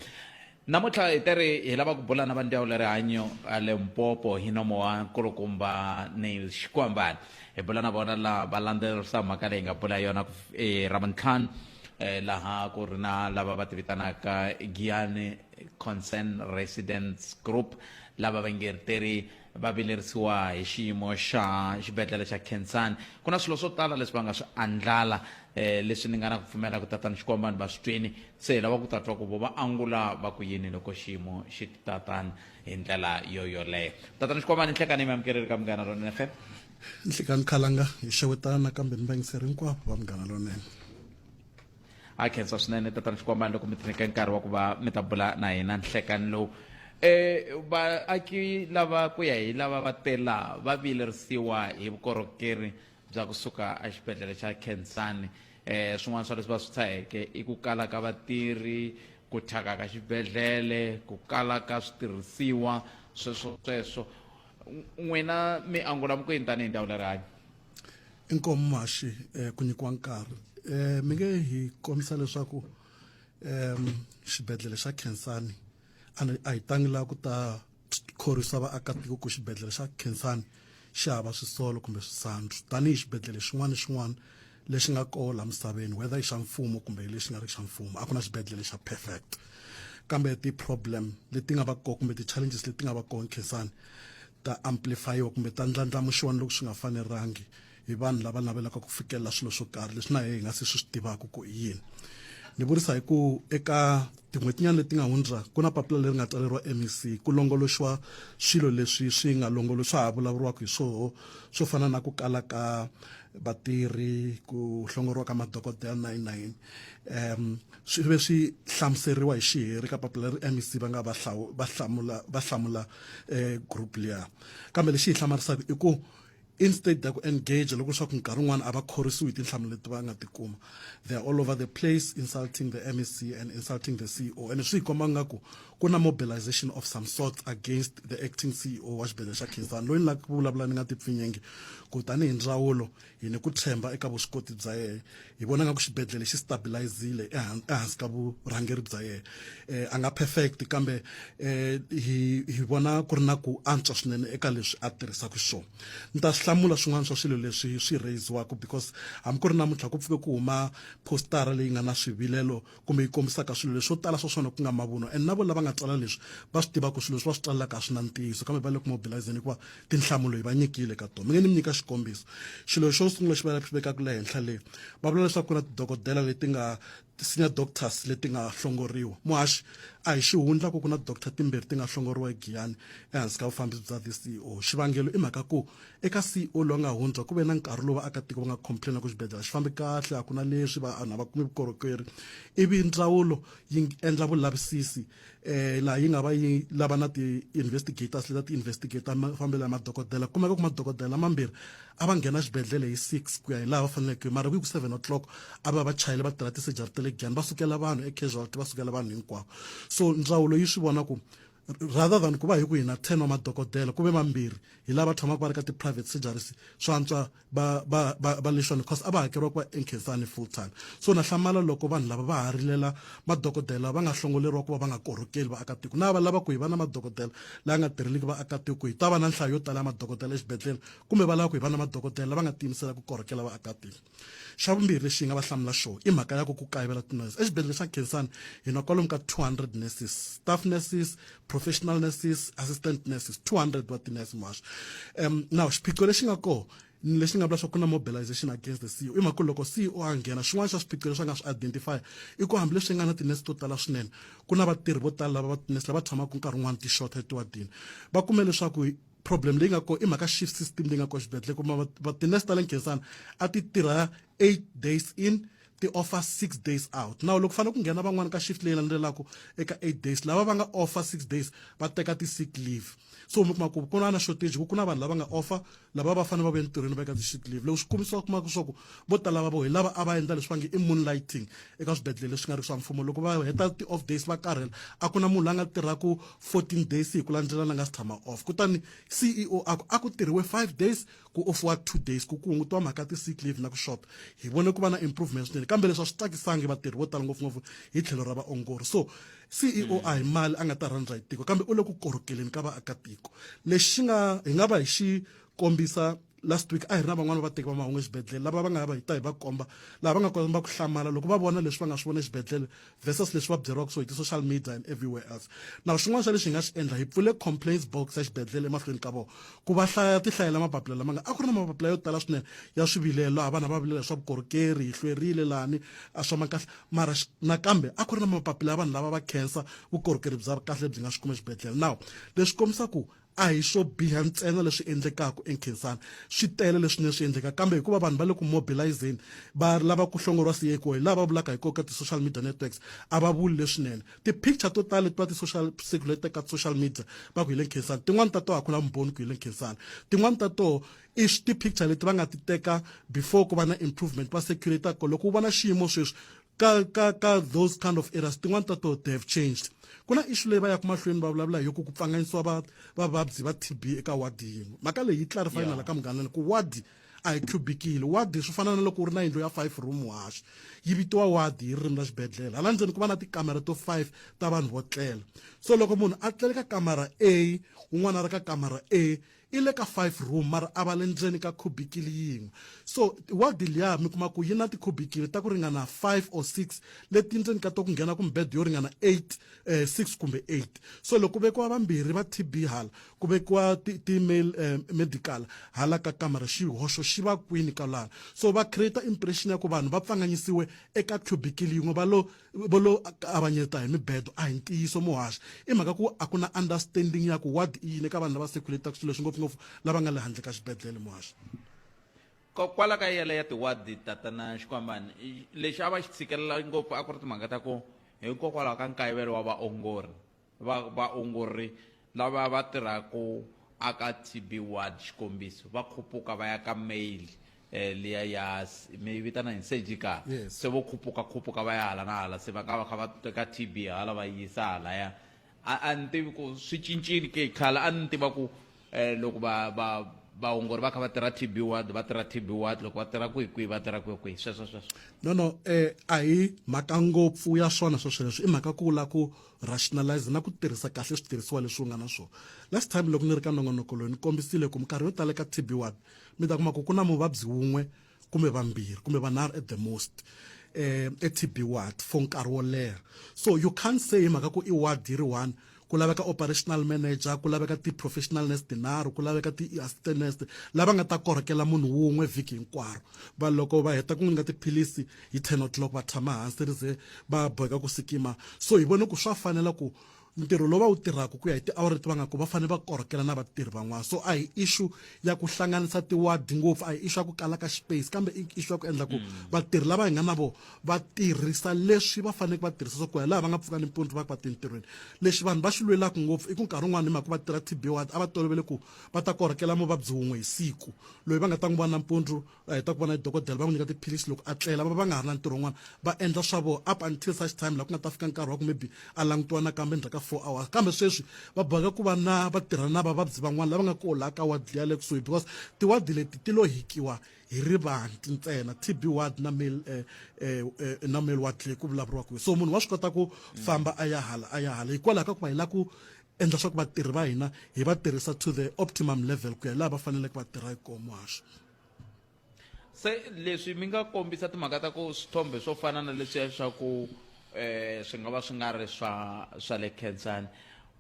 Speaker 1: Namuntlha hi te ri hi lava ku bula na va ndyawulo ya rihanyo a Limpopo hi nomo wa nkulukumba Neil Xikwambani. Hi bula na vona laha va landzelerisa mhaka leyi hi nga bula yona ku fi- eh, Ravuntlhanu eh, laha ku ri na lava va tivitanaka Giyani Concern Residents Group lava va ngerteri va vilerisiwa hi xiyimo xa xibedhlele xa khensani ku na swilo swo tala leswi va nga swi andlala um leswi ni nga na ku pfumela ku tatana xikwambo vanhu va swi twini se hi lava ku ta twa ku vo va angula va ku yini loko xiyimo xi tatana hi ndlela yo yoleyo tatana xikwambo ni nhlekani yi mi amukeleli ka munghana lonene fm nhlekani
Speaker 9: khalanga hi xewetana kambe ni va yingiseri hinkwavo va munghana lonene
Speaker 1: a khensa swinene tatana xikwambani loko mi tineke nkarhi wa ku va mi ta bula na hina nhlekani lowu um vaaki lava ku ya hi lava va tela va vilerisiwa hi vukorhokeri bya kusuka exibedhlele xa khensani um swin'wana swa leswi va swi tshaheke i ku kala ka vatirhi ku thyaka ka xibedhlele ku kala ka switirhisiwa sweswo sweswo n'wina mi angula ku yini tanihi ndhawu le rihanyo inkomu
Speaker 9: maxi eh, ku nyikiwa nkarhi eh, mi nge hi kombisa leswaku um xibedhlele xa khensani a hi tangi laha ku ta khorwisa vaakatiko ku xibedhlele xa khensani xi hava swisolo kumbe swisandzu tanihi xibedhlele xin'wana xin'wana lexi nga koho la misaveni whether i xa mfumo kumbe lexi nga ri xa mfumo a ku na xibedhlele xa perfect kambe ti-problem leti nga va koho kumbe ti-challenges leti nga va koho khensani ta amplifayiwa kumbe ta ndlandlamuxiwa ni loko swi nga fanelangi hi vanhu lava navelaka ku fikelela swilo swo karhi leswi na hi nga se swi swi tivaka ku i yini ni vurisa hi ku eka tin'hwetinyana leti nga hundza ku na papila leri nga tsaleriwa mec ku longoloxiwa swilo leswi swi nga longolo swa ha vulavuriwaka hi swoho swo fana na ku kala ka vatirhi ku hlongoriwa ka madokodela na yini na yini um swi ve swi hlamuseriwa hi xiheri ka papila ri mec va nga va hlamula va hlamula eh, group liya kambe lexi hi hlamarisaka i ku instead ya ku engage loko swa ku nkarhi wun'wana a va khorisiwi hi tinhlamulo leti va nga ti kuma they are all over the place insulting the mec and insulting the ceo and swi hi komba nga ku ku na mobilization of some sort against the acting ceo wa xibedhlele xa khinsani loyi ni lava ku vulavula ni nga ti pfinyenge ku tanihi ndzawulo Hi ni ku tshemba eka vuswikoti bya yena. Hi vona nga ku xibedhlele xi stabilize-zile ehansi ka vurhangeri bya yena. A nga perfect kambe hi hi vona ku ri na ku antswa swinene eka leswi a tirhisaka xiswona. Ni ta swi hlamula swin'wana swa swilo leswi swi raise-waka because hambi ku ri namuntlha ku pfuke ku huma post-ara leyi nga na swivilelo. kumbe yi kombisaka swilo leswi swo tala swa swona ku nga mavunwa and na vona lava nga tsala leswi va swi tiva ku swilo leswi va swi tsalelaka a swi na ntiyiso kambe va le ku mobilizeni hikuva tinhlamulo hi va nyikile ka tona mi nge ni mi nyika xikombiso xilo xo sungula xi va xi vekaka le henhla le va vula leswaku ku na tidokodela leti nga ti-senior doctors leti nga hlongoriwa muhaxi a hi xihundla ku ku na doctor timbirhi ti nga hlongoriwa egiyani ehansi ka vufambisi bya the ceo xivangelo i mhaka ku Eka CEO loyi a nga hundza ku ve na nkarhi lowu vaakatiko va nga complain ku xibedhlele a xi fambi kahle a ku na leswi vanhu a va kumi vukorhokeri ivi ndzawulo yi endla vulavisisi eh laha yi nga va yi lava na ti-investigators leta ti-investigate mafambelo ya madokodela kumeka ku madokodela mambirhi a va nghena xibedhlele hi six ku ya hi laha va faneleke mara ku yi ku seven o'clock a va va chayele va tirha ti-surgery ta le giyani va sukela vanhu e-casualty va sukela vanhu hinkwavo so ndzawulo yi swi vona ku Rather than kuva hiku hina 10 wa madokodela kuve vambirhi hi lava tshamaka vari ka ti private surgeries swa antswa va va va va nixon course a va hakeriwa kuva enkhinsani full time so na hlamala loko vanhu lava va ha rilela madokodela va nga hlongoleriwa kuva va nga korhokeli vaakatiko na va lava ku hi va na madokodela la nga tirheliki vaakatiko hi ta va na nhlayo yo tala ya madokodela exibedhlele kumbe va lava ku hi va na madokodela lava nga tiyimisela ku korhokela vaakatiko xa vumbirhi lexi hi nga va hlamula xona i mhaka ya ku ku kayivela tinurse exibedhlele xa khensani hi na kwalomu ka 200 nurses staff nurses professional nurses assistant nurses 200 wa tinurse muhasho um now xiphiqo lexi nga kona lexi nga vula swa ku na mobilization against the ceo i mhaka loko ceo a nghena xin'wana xa swiphiqo leswi a nga swi identify i ku hambileswi nga na tinurse to tala swinene ku na vatirhi vo tala lava tinurse lava tshamaka nkarhi wun'wana ti-shorter etiwadini va kume leswaku problem leyi nga ko i mhaka shift system leyi nga ko xibedhlele kuma va tinurse ta le nkhensana a ti tirha eight days in ti offer six days out nawu loko fanele ku nghena van'wana ka shift leyi landzelaka eka eight days lava va nga offer six days va teka ti-sick leave so mi kuma ku ku na na shortage ku ku na vanhu lava nga offer lava va fanele va va entirhweni va eka ti-sick leave loko swi kumisa kuma ku swaku vo tala va vo hi lava a va endla leswi va nge i moonlighting eka swibedhlele leswi nga ri swa mfumo loko va heta ti-off days va karhela a ku na munhu la nga tirhaku 14 days hi ku landzelana nga si tshama off kutani ceo a ku a ku tirhiwe 5 days ku offiwa 2 days ku ku hungutiwa mhaka ya ti-sick leave na ku shota hi vone ku va na improvement swinene kambe leswi a swi tsakisangi vatirhi vo tala ngopfungopfu hi tlhelo ra vaongori so ceo a hi mali a nga ta rhandza hi tiko kambe u le ku korhokeleni ka vaakatiko lexi nga hi nga va hi xi kombisa last week a hi ri na van'wana va vateki va mahungu exibedhlele lava va nga va hi ta hi va komba laha va nga komba ku hlamala loko va vona leswi va nga swi vona exibedhlele versus leswi va byeriwaka so hi ti-social media and everywhere else na xin'wana xa lexi hi nga xi endla hi pfule complaints box ya xibedhlele emahlweni ka vona ku va hlaya ti hlayela mapapila lama nga a ku ri na mapapila yo tala swinene ya swivilelo laha vanhu va vilela swa vukorhokeri hi hlwerile lani a swa ma kahle mara nakambe a ku ri na mapapila ya vanhu lava va khensa vukorhokeri bya kahle lebyi nga swi kuma exibedhlele now leswi kombisa ku a hi swo biha ntsena leswi endlekaka enkhensani swi tele leswinene swi endleka kambe hikuva vanhu va le ku mobilizeni va lava ku hlongoriwa siye hikuva hi lava vulaka hi koka ti-social media networks a va vuli leswinene ti-picture to tala leti va ti-social circulate ka social media va ku hi le nkhensani tin'wani ta toho a ku la mboni ku hi le nkhensani tin'wani ta toho i ti-picture leti va nga ti teka before ku va na improvement va circulate ko loko u vona xiyimo sweswi ka ka ka those kind of errors tin'wana ta to they have changed ku na issue leyi va yaka mahlweni va vulavula hi ku ku pfanganyisiwa va vavabyi va tb eka wadi yin'we mhaka leyi yi clarify nala ka munghana ku wadi a hi cubikile wadi swi fana na loko u ri na yindlu ya five room wash yi vitiwa wadi hi ririmi ra xibedhlele hala ndzeni ku va na tikamera to five ta vanhu vo tlela so loko munhu a tlele ka kamara a un'wana a ri ka kamara a I le ka five room mara a va le ndzeni ka khubikili yin'we. So ward liya mi kuma ku yi na tikhubikili ta ku ringana five or six leti ndzeni ka to ku nghena ku mibedwa yo ringana eight, six kumbe eight. So loko ku vekiwa vambirhi va TB hala, ku vekiwa ti ti male medical hala ka kamara xihoxo xi va kwini kwalano. So va create impression ya ku vanhu va pfanganyisiwe eka khubikili yin'we va lo Vo lo kavanyeta hi mibedo a hi ntiyiso muhaxi. I mhaka ku a ku na understanding ya ku ward i yini eka vanhu lava circulate-aka swilo leswi ngopfungopfu lava nga le handle ka xibedlhele muhaxi.
Speaker 1: Kwala ka yele ya ti-ward Tatana Xikwambani lexi a va xi tshikelela ngopfu a ku ri timhaka ta ku hikokwalaho ka nkayivelo wa vaongori Va vaongori lava va tirhaka aka TB ward, xikombiso, va khupuka va ya ka male eh, liya ya mi yi vitana yini surgical Yes. se vo khupuka khupuka va ya hala na hala se va nga va kha va teka TB hala va yi yisa halaya a a ni tivi ku swi cincile ke khale a ni tiva ku eh, loko va va vaongori va kha va tirha TB ward va tirha TB ward loko va tirha kwihi kwihi va tirha kwihi kwihi sweswo sweswo no no eh
Speaker 9: a hi mhaka ngopfu ya swona sweswo leswi i mhaka ku la ku rationalize na ku tirhisa kahle switirhisiwa leswi u nga na swona last time loko ni ri ka nongonoko loyi ni kombisile ku minkarhi yo tala ka tb one mi ta kuma ku ku na muvabyi wun'we kumbe vambirhi kumbe vanharhu at the most eh e-tb ward for nkarhi wo leha so you can't say hi mhaka ku i ward yi ri one ku laveka operational manager ku laveka ti-professional nurse tinharhu ku laveka ti-assistant nurse lava nga ta korhokela munhu wun'we vhiki hinkwaro vanhu loko va heta ku n'wi nyika tiphilisi hi 10 o'clock va tshama hansi ri ze va boheka ku sikima so hi vone ku swa fanela ku ntirho lowu va wu tirhaka ku ya hi tiawara leti va nga ku va fanele va korhokela na vatirhi van'wana so a hi issue ya ku hlanganisa tiward ngopfu a hi issue ya ku kala ka space kambe i issue ya ku endla ku mm. vatirhi lava hi nga na vo va tirhisa leswi va faneleke va tirhisa swa ku ya laha va nga pfuka nimpundzu va ku va tintirhweni lexi vanhu va xi lwelaka ngopfu i ku nkarhi wun'wana hi mhaka va tirha tb ward a va tolovele ku va ta korhokela muvabyi wun'we hi siku loyi va nga ta n'wi vona nampundzu va heta ku vona hi dokodela va n'wi nyika tiphilisi loko a tlela va va nga ha ri na ntirho wun'wana va endla swa vona up until such time laha ku nga ta fika nkarhi wa ku maybe a langutiwa nakambe endzhaku ka four hours kambe sweswi va boheka ku va na va tirhana na vavabyi van'wana lava nga koho laha ka wadi liya le kusuhi because tiwadi leti ti lo hikiwa hi rivanti ntsena tb ward na male eh, eh, eh, na male ward leyi ku vulavuriwaka so munhu wa swi kota ku famba a ya hala a ya hala hikwalaho ka ku va hi la ku Endla swa ku vatirhi va hina hi va tirhisa to the optimum level ku ya laha va faneleke va tirha hi kona muhasho.
Speaker 1: Se leswi mi nga kombisa timhaka ta ku swithombe swo fana na leswiya swa ku swi nga va swi nga ri swa swa le Khensani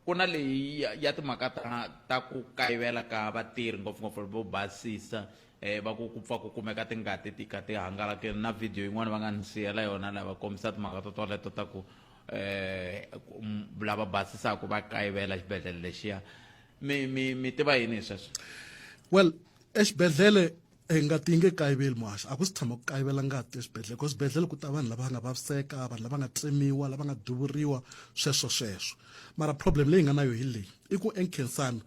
Speaker 1: ku na leyi ya timhaka ta ta ku kayivela ka vatirhi ngopfungopfu vo basisa va ku ku pfa ku kumeka tingati ti kha ti hangalakile na video yin'wana va nga ni siyela yona laha va kombisa timhaka to toleto ta ku um lava basisaka va kayivela xibedhlele lexiya mi mi mi
Speaker 9: tiva
Speaker 1: yini hi sweswo well exibedhlele hi eh,
Speaker 9: ngati yi nge kayiveli muhaxi a ku si tshama ku kayivela ngati exibedhlele ku swibedhlele ku ta vanhu lava nga vaviseka vanhu lava nga tsemiwa lava nga duvuriwa sweswo sweswo mara problem leyi nga na yo hi leyi i ku enkensana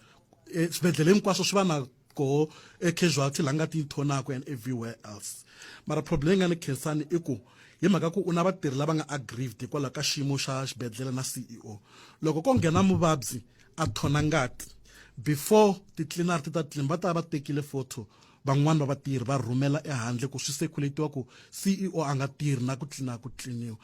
Speaker 9: eh, swibedhlele hinkwaswo swi va na ko ecasualty la nga ti yi thonaka and everywhere else mara problem leyi nga ni khensani i ku hi mhaka ku u na vatirhi lava nga aggrieved hikwalaho ka xiyimo xa xibedhlele na ceo loko ko nghena muvabyi a thona ngati before ti-cleaner ti ta tlini va ta va tekile photo van'wani va vatirhi va rhumela ehandle ku swi seculatiwa ku ceo a nga tirhi na ku tlina ku tliniwa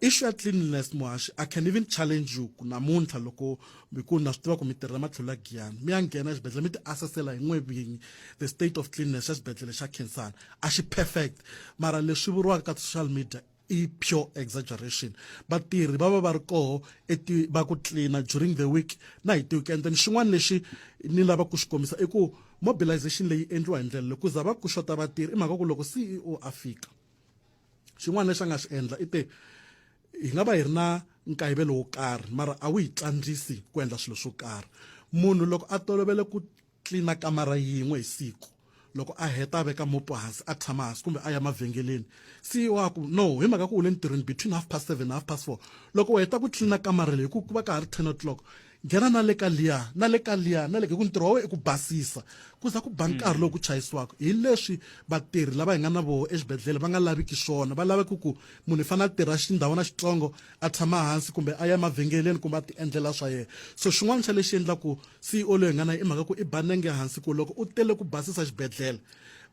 Speaker 9: issue ya cleanliness muhaxi i can even challenge you ku namuntlha loko mi ku na swi tiva ku mi tirhela matlhelo ya giyani mi ya nghena exibedhlele mi ti assessela hi n'we vinyi the state of cleanness xa xibedhlele xa khensana a xi perfect mara leswi vuriwaka ka social media i pure exaggeration vatirhi va va va ri koho eti va ku cleana during the week na hi ti-weekend and xin'wana lexi ni lava ku xi kombisa i ku mobilization leyi endliwa hi ndlela leyi ku za va ku xota vatirhi i mhaka ku loko ceo a fika xin'wana lexi a nga xi endla i te hi nga va hi ri na nkayivelo wo karhi mara a wu hi tsandzisi ku endla swilo swo karhi munhu loko a tolovele ku tlilina kamara yin'we hi siku loko a heta a veka mopo hansi a tshama hansi kumbe a ya mavhengeleni si wa ku no hi mhaka ku u le ntirhweni between half past seven half past four loko u heta ku tlilina kamara leyi ku ku va ka ha ri ten o'clock Nghena na le ka liya, na le ka liya, na le ka, hi ku ntirho wa wena i ku basisa. Ku za ku ba nkarhi lowu ku chayisiwaka. Hi leswi vatirhi lava hi nga na voho exibedlhele va nga laviki swona. Va lava ku ku munhu i fanele a tirha xindhawana xitsongo, a tshama hansi kumbe a ya emavhengeleni kumbe a tiendlela swa yena. So xin'wana xa lexi endlaka CEO loyi hi nga na yena i mhaka ku i ba nenge hansi ku loko u tele ku basisa xibedlhele,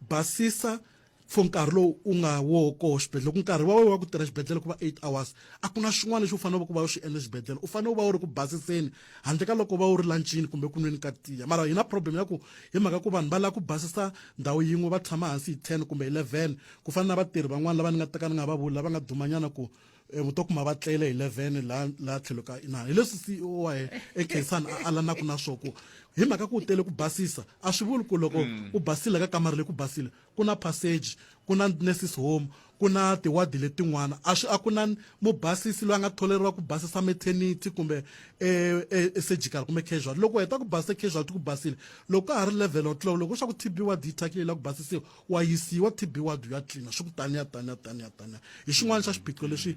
Speaker 9: basisa for nkarhi lowu u nga wo koho xibedhlele loko nkarhi wa wena wa ku tirha xibedhlele ku va eight hours a ku na xin'wana lexi u fanele ku va u xi endle xibedhlele u fanele u va u ri ku basiseni handle ka loko u va u ri lanchini kumbe ku nweni ka tiya mara hi na problem ya ku hi mhaka ku vanhu va lava ku basisa ndhawu yin'we va tshama hansi hi ten kumbe eleven ku fana na vatirhi van'wana lava ni nga teka ni nga va vuli lava nga dumanyana ku Eh, u to kuma va tlele hi 11 la la tlhelo ka inana hi leswi ceo wa yena ekhaisani a alanaka na swo ku hi mhaka ku u tele ku basisa a swi vuli ku loko mm. u basile ka kamara leyi ku basile ku na passage ku na nurses home ku na tiwadi letin'wana a swi a ku na mubasisi loyi a nga tholeriwa ku basisa maternity kumbe eh, eh, surgical kumbe casual loko u heta ku basisa casual ti ku basile loko ka ha ri level o tlula loko swa ku tb wadi yi thyakile la ku basisiwa Wa yisiwa TB ward ya tlina swi ku taniya taniya taniya taniya hi xin'wana xa xiphiqo lexi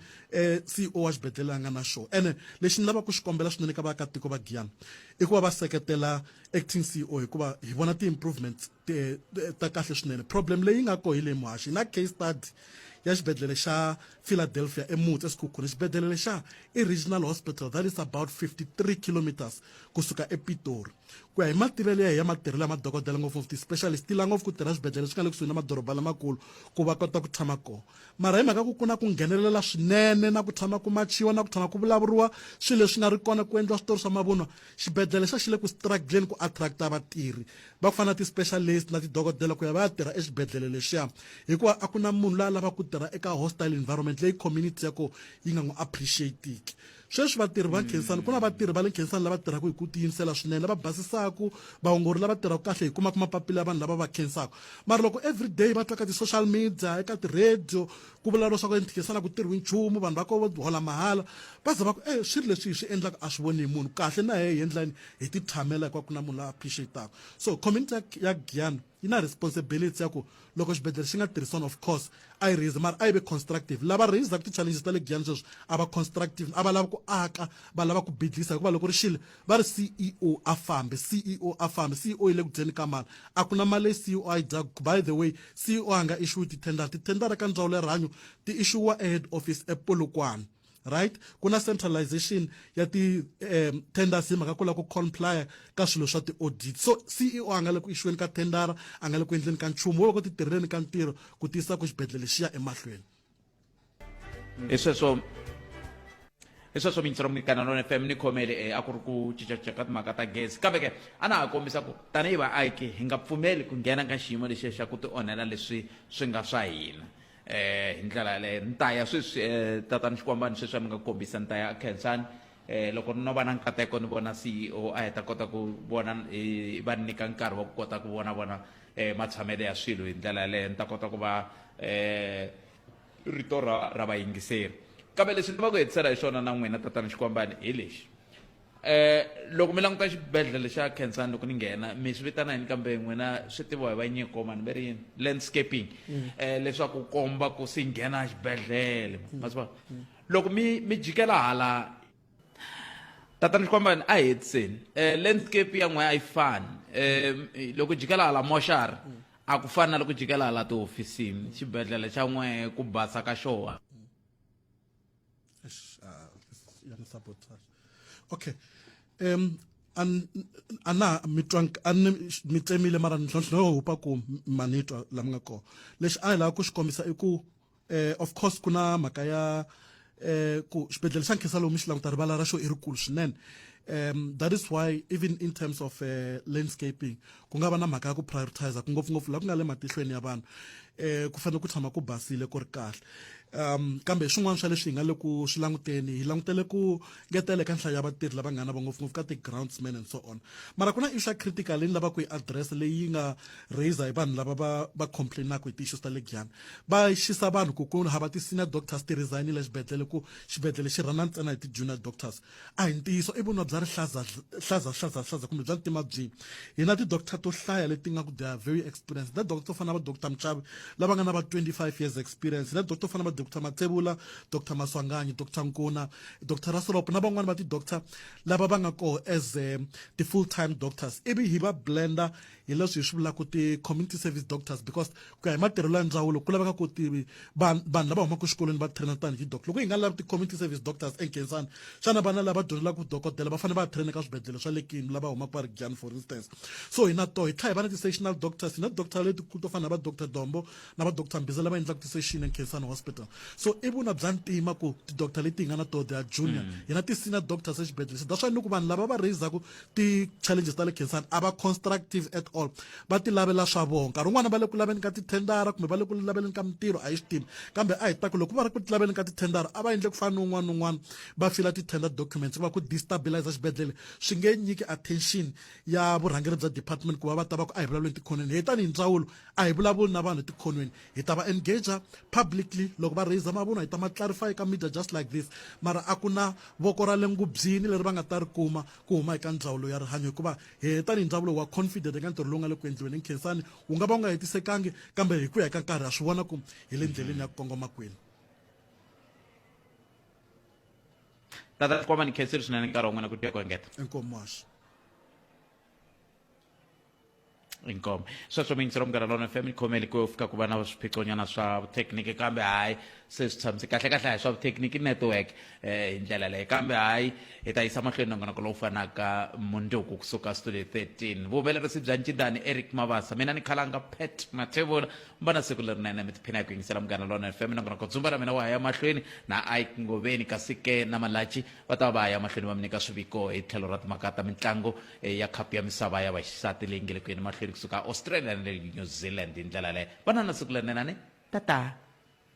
Speaker 9: CEO wa xibedhlele a nga na xo ene lexi ni lava ku xi kombela swinene ka vaakatiko va Giyani i ku va va seketela acting CEO hikuva hi vona ti improvements ta kahle swinene problem leyi nga ko hi leyi muhaxi hi na case study ya xibedhlele xa Philadelphia eMutsi eSikhukhune, xibedlhele lexa i Regional Hospital that is about 53 kilometres kusuka ePitori. Ku ya hi mativelo ya hi ya matirhelo ya madokodela ngopfungopfu ti specialist ti la ngopfu ku tirha swibedlhele swi nga le kusuhi na madoroba lamakulu ku va kota ku tshama kona. Mara hi mhaka ku ku na ku nghenelela swinene na ku tshama ku machiwa na ku tshama ku vulavuriwa swilo leswi nga ri kona ku endliwa switori swa mavunwa, xibedlhele xa xi le ku struggle-leni ku attract-a vatirhi va ku fana na ti-specialist na tidokodela ku ya va ya tirha exibedhlele lexiya hikuva a ku na munhu la a lavaka ku tirha eka hostile environment leyi community ya ko yi nga n'wi appreciatiki sweswi vatirhi va khensani ku na vatirhi va le khensani lava tirhaka hi ku tiyimisela swinene lava basisaku vaongori lava tirhaka kahle hi kumaka mapapila ya vanhu lava va khensaka mara loko every day va twa ka ti-social media eka ti-radio ku vulavuriwa swa ku enkhensana ku tirhiwi nchumu vanhu va ko vo hola mahala va za va ku e swilo leswi hi swi endlaka a swi voni hi munhu kahle na hehe hi endlani hi ti tshamela hikuva ku na munhu la appreciataka so community ya, ya Giyani yi na responsibility ya ku loko xibedhlele xi nga tirhisana of course a yi raise mara a yi ve constructive lava raisaka ti-challenges ta le Giyani sweswi a va constructive a va lava ku aka va lava ku bidlisa hikuva loko ri xile va ri CEO a fambe CEO a fambe CEO yi le ku dyeni ka mali a ku na mali leyi CEO a yi dyaku by the way CEO a nga issuwi ti-tender ti-tender ka ndzawulo ya rihanyo ti issuwa ehead office ePolokwane right ku na centralization ya ti um tenders hi mhaka ku lava ku complya ka swilo swa ti-audit so ceo a nga le ku ixiweni ka tendara a nga le ku endleni ka nchumu wo va ku ti tirheleni ka ntirho ku tiyisa ku xibedhlele xi ya emahlweni
Speaker 1: hi sweswo hi sweswo mintsiro munikana nona fm ni khomele um a ku ri ku cincacinca ka timhaka ta gezi kambe ke a na ha kombisa ku tanihi vaaki hi nga pfumeli ku nghena ka xiyimo lexiya xa ku ti onhela leswi swi nga swa hina eh hi ndlela yaleyo ni ta ya sweswi eh, tatani xikwambani sweswi a mi nga kombisa ni ta ya khensani eh loko no va na nkateko ni vona ceo a hi ta kota ku vona eh, va ni nyika nkarhi wa ku kota ku vona vona eh matshamelo ya swilo hi ndlela yaleyo ni ta kota ku va eh rito ra ra vayingiseri kambe leswi ni va ku hetisela hi swona na n'wina tatana xikwambani hi lexi Eh, loko mi languta xibedhlele xa khensani loko ni nghena mi swi vitana yini kambe n'wina swi tiviwa hi vanyiko mani va ri yini landscaping um leswaku komba ku si nghena xibedhlele mm. ma swi vona mm. loko mi mi jikela hala tatana xikwambani a hetiseni um landscape ya n'we a yi fani um loko jikela hala moxari a ku fani na loko jikela hala tihofisini xibedhlele xa n'we ku basa ka xona Eish, ah, this-
Speaker 9: ya ni sabotage. Okay. Um an ana mi twank an mi tsemile mara ntlhontlho lowu hupa ku ma ni twa la mi nga kona lexi a hi lava ku xi kombisa i ku eh, of course ku na mhaka ya eh, ku xibedhlele xa nkhensa lowu mi xi languta rivala ra xo i rikulu swinene um that is why even in terms of eh, landscaping ku nga va na mhaka ya ku prioritize ku ngopfungopfu laha ku nga le matihlweni ya vanhu um ku fanele ku tshama ku basile ku ri kahle um kambe hi swin'wana swa leswi hi nga le ku swi languteni hi langutele ku ngetela eka nhlayo ya vatirhi lava nga na va ngopfungopfu ka ti-groundsman and so on mara ku na isha critical leyi ni lavaka ku yi address leyi nga raiser hi vanhu lava va va complainaka hi ti-issues ta le giyani va xisa vanhu ku ku hava ti-senior doctors ti-resignile xibedhlele ku xibedhlele xi rhana ntsena hi ti-junior doctors A hi ntiyiso i vunwa bya rihlaza hlaza hlaza hlaza kumbe bya ntima byi hi na ti-doctor to hlaya leti nga ku they are very experienced na doctor to fana va doctor Mchavi lava nga na va 25 years experience na doctor to fana va doctor Matsevula doctor Maswanganyi doctor Nkuna doctor Rasolopo na van'wani va ti-doctor lava va nga koho as eh, ti-full time doctors ivi hi va blender hi leswi hi swi vulaka ti-community service doctors because ku ya hi matirhelo ya ndzawulo ku laveka ku tivi vanhu lava humaka exikolweni va traina tanihi doc loko hi nga lavi ti-community service doctors enkensani xana vana lava dyondzelaku dokodela va fanele va traina ka swibedhlele swa le kini lava humaka va ri jani for instance so hi na to hi tlha hi va na ti-sessional doctors hi na doctor letikulu to fana na va doctor dombo na va doctor mbiza lava endlaka ti-session enkensani hospital so i vuna bya ntima ku ti-doctor leti hi nga na to the are junior mm. hi na ti-senior doctors exibedhlele se that's why ni ku vanhu lava va raisaku ti-challenges ta le khensani a va constructive at all va ti lavela swa vona nkarhi wun'wana va le ku laveni ka tithendara kumbe va le ku laveleni ka mintirho a yi swi tivi kambe a hi ta ku loko va ri ku ti laveni ka tithendara a va endle ku fana ni un'wana ni un'wana va fila ti-tender documents va ku destabilize xibedhlele swi nge nyiki attention ya vurhangeri bya department ku va va ta va ku a hi vulavuleni tikhonweni hi tanihi ndzawulo a hi vulavuli na vanhu etikhonweni Hi ta va engager publicly loko va raiser mavunwa hi ta ma clarify eka media just like this mara a ku na voko ra le ngubyini leri va nga ta ri kuma ku huma eka ndzawulo ya rihanyo hikuva hehe tanihi ndhawu lowu wa confident eka ntirho lowu nga le ku endliweni Nkhensani wu nga va wu nga hetisekangi kambe hi ku ya ka nkarhi ha swi vona ku hi le ndleleni ya ku kongoma kwini
Speaker 1: Tata Tikwama ni khensile swinene nkarhi wa n'wina ku tiya ku engeta. Inkomu Mashi. inkomo sweswo mi ntsira munghana lona fm khomeli ku fika ku va na swiphiqonyana swa vuthekiniki kambe hayi se swi tshamise kahle kahle hayi swa vuthekiniki network eh, hi ndlela leyi kambe hayi hi ta yisa mahlweni nongonoko lowu fanaka mundzuku kusuka studio 13 vuhumelerisi bya ncindani eric mavasa mina ni khalanga pet mathevula mi va na siku lerinene mi tiphina hi ku yingisela munghana lona fm nongonoko dzumba ra mina wa ha ya mahlweni na ike ngoveni kasi ke na malachi va ta va va ha ya mahlweni va mi nyika swiviko hi tlhelo ra timhaka ta mitlangu ya khapu ya misava ya vaxisati leyi nge le ku yeni mahlweni kusuka australia na le new zealand hi ndlela yaleyo va na na siku lerinene tata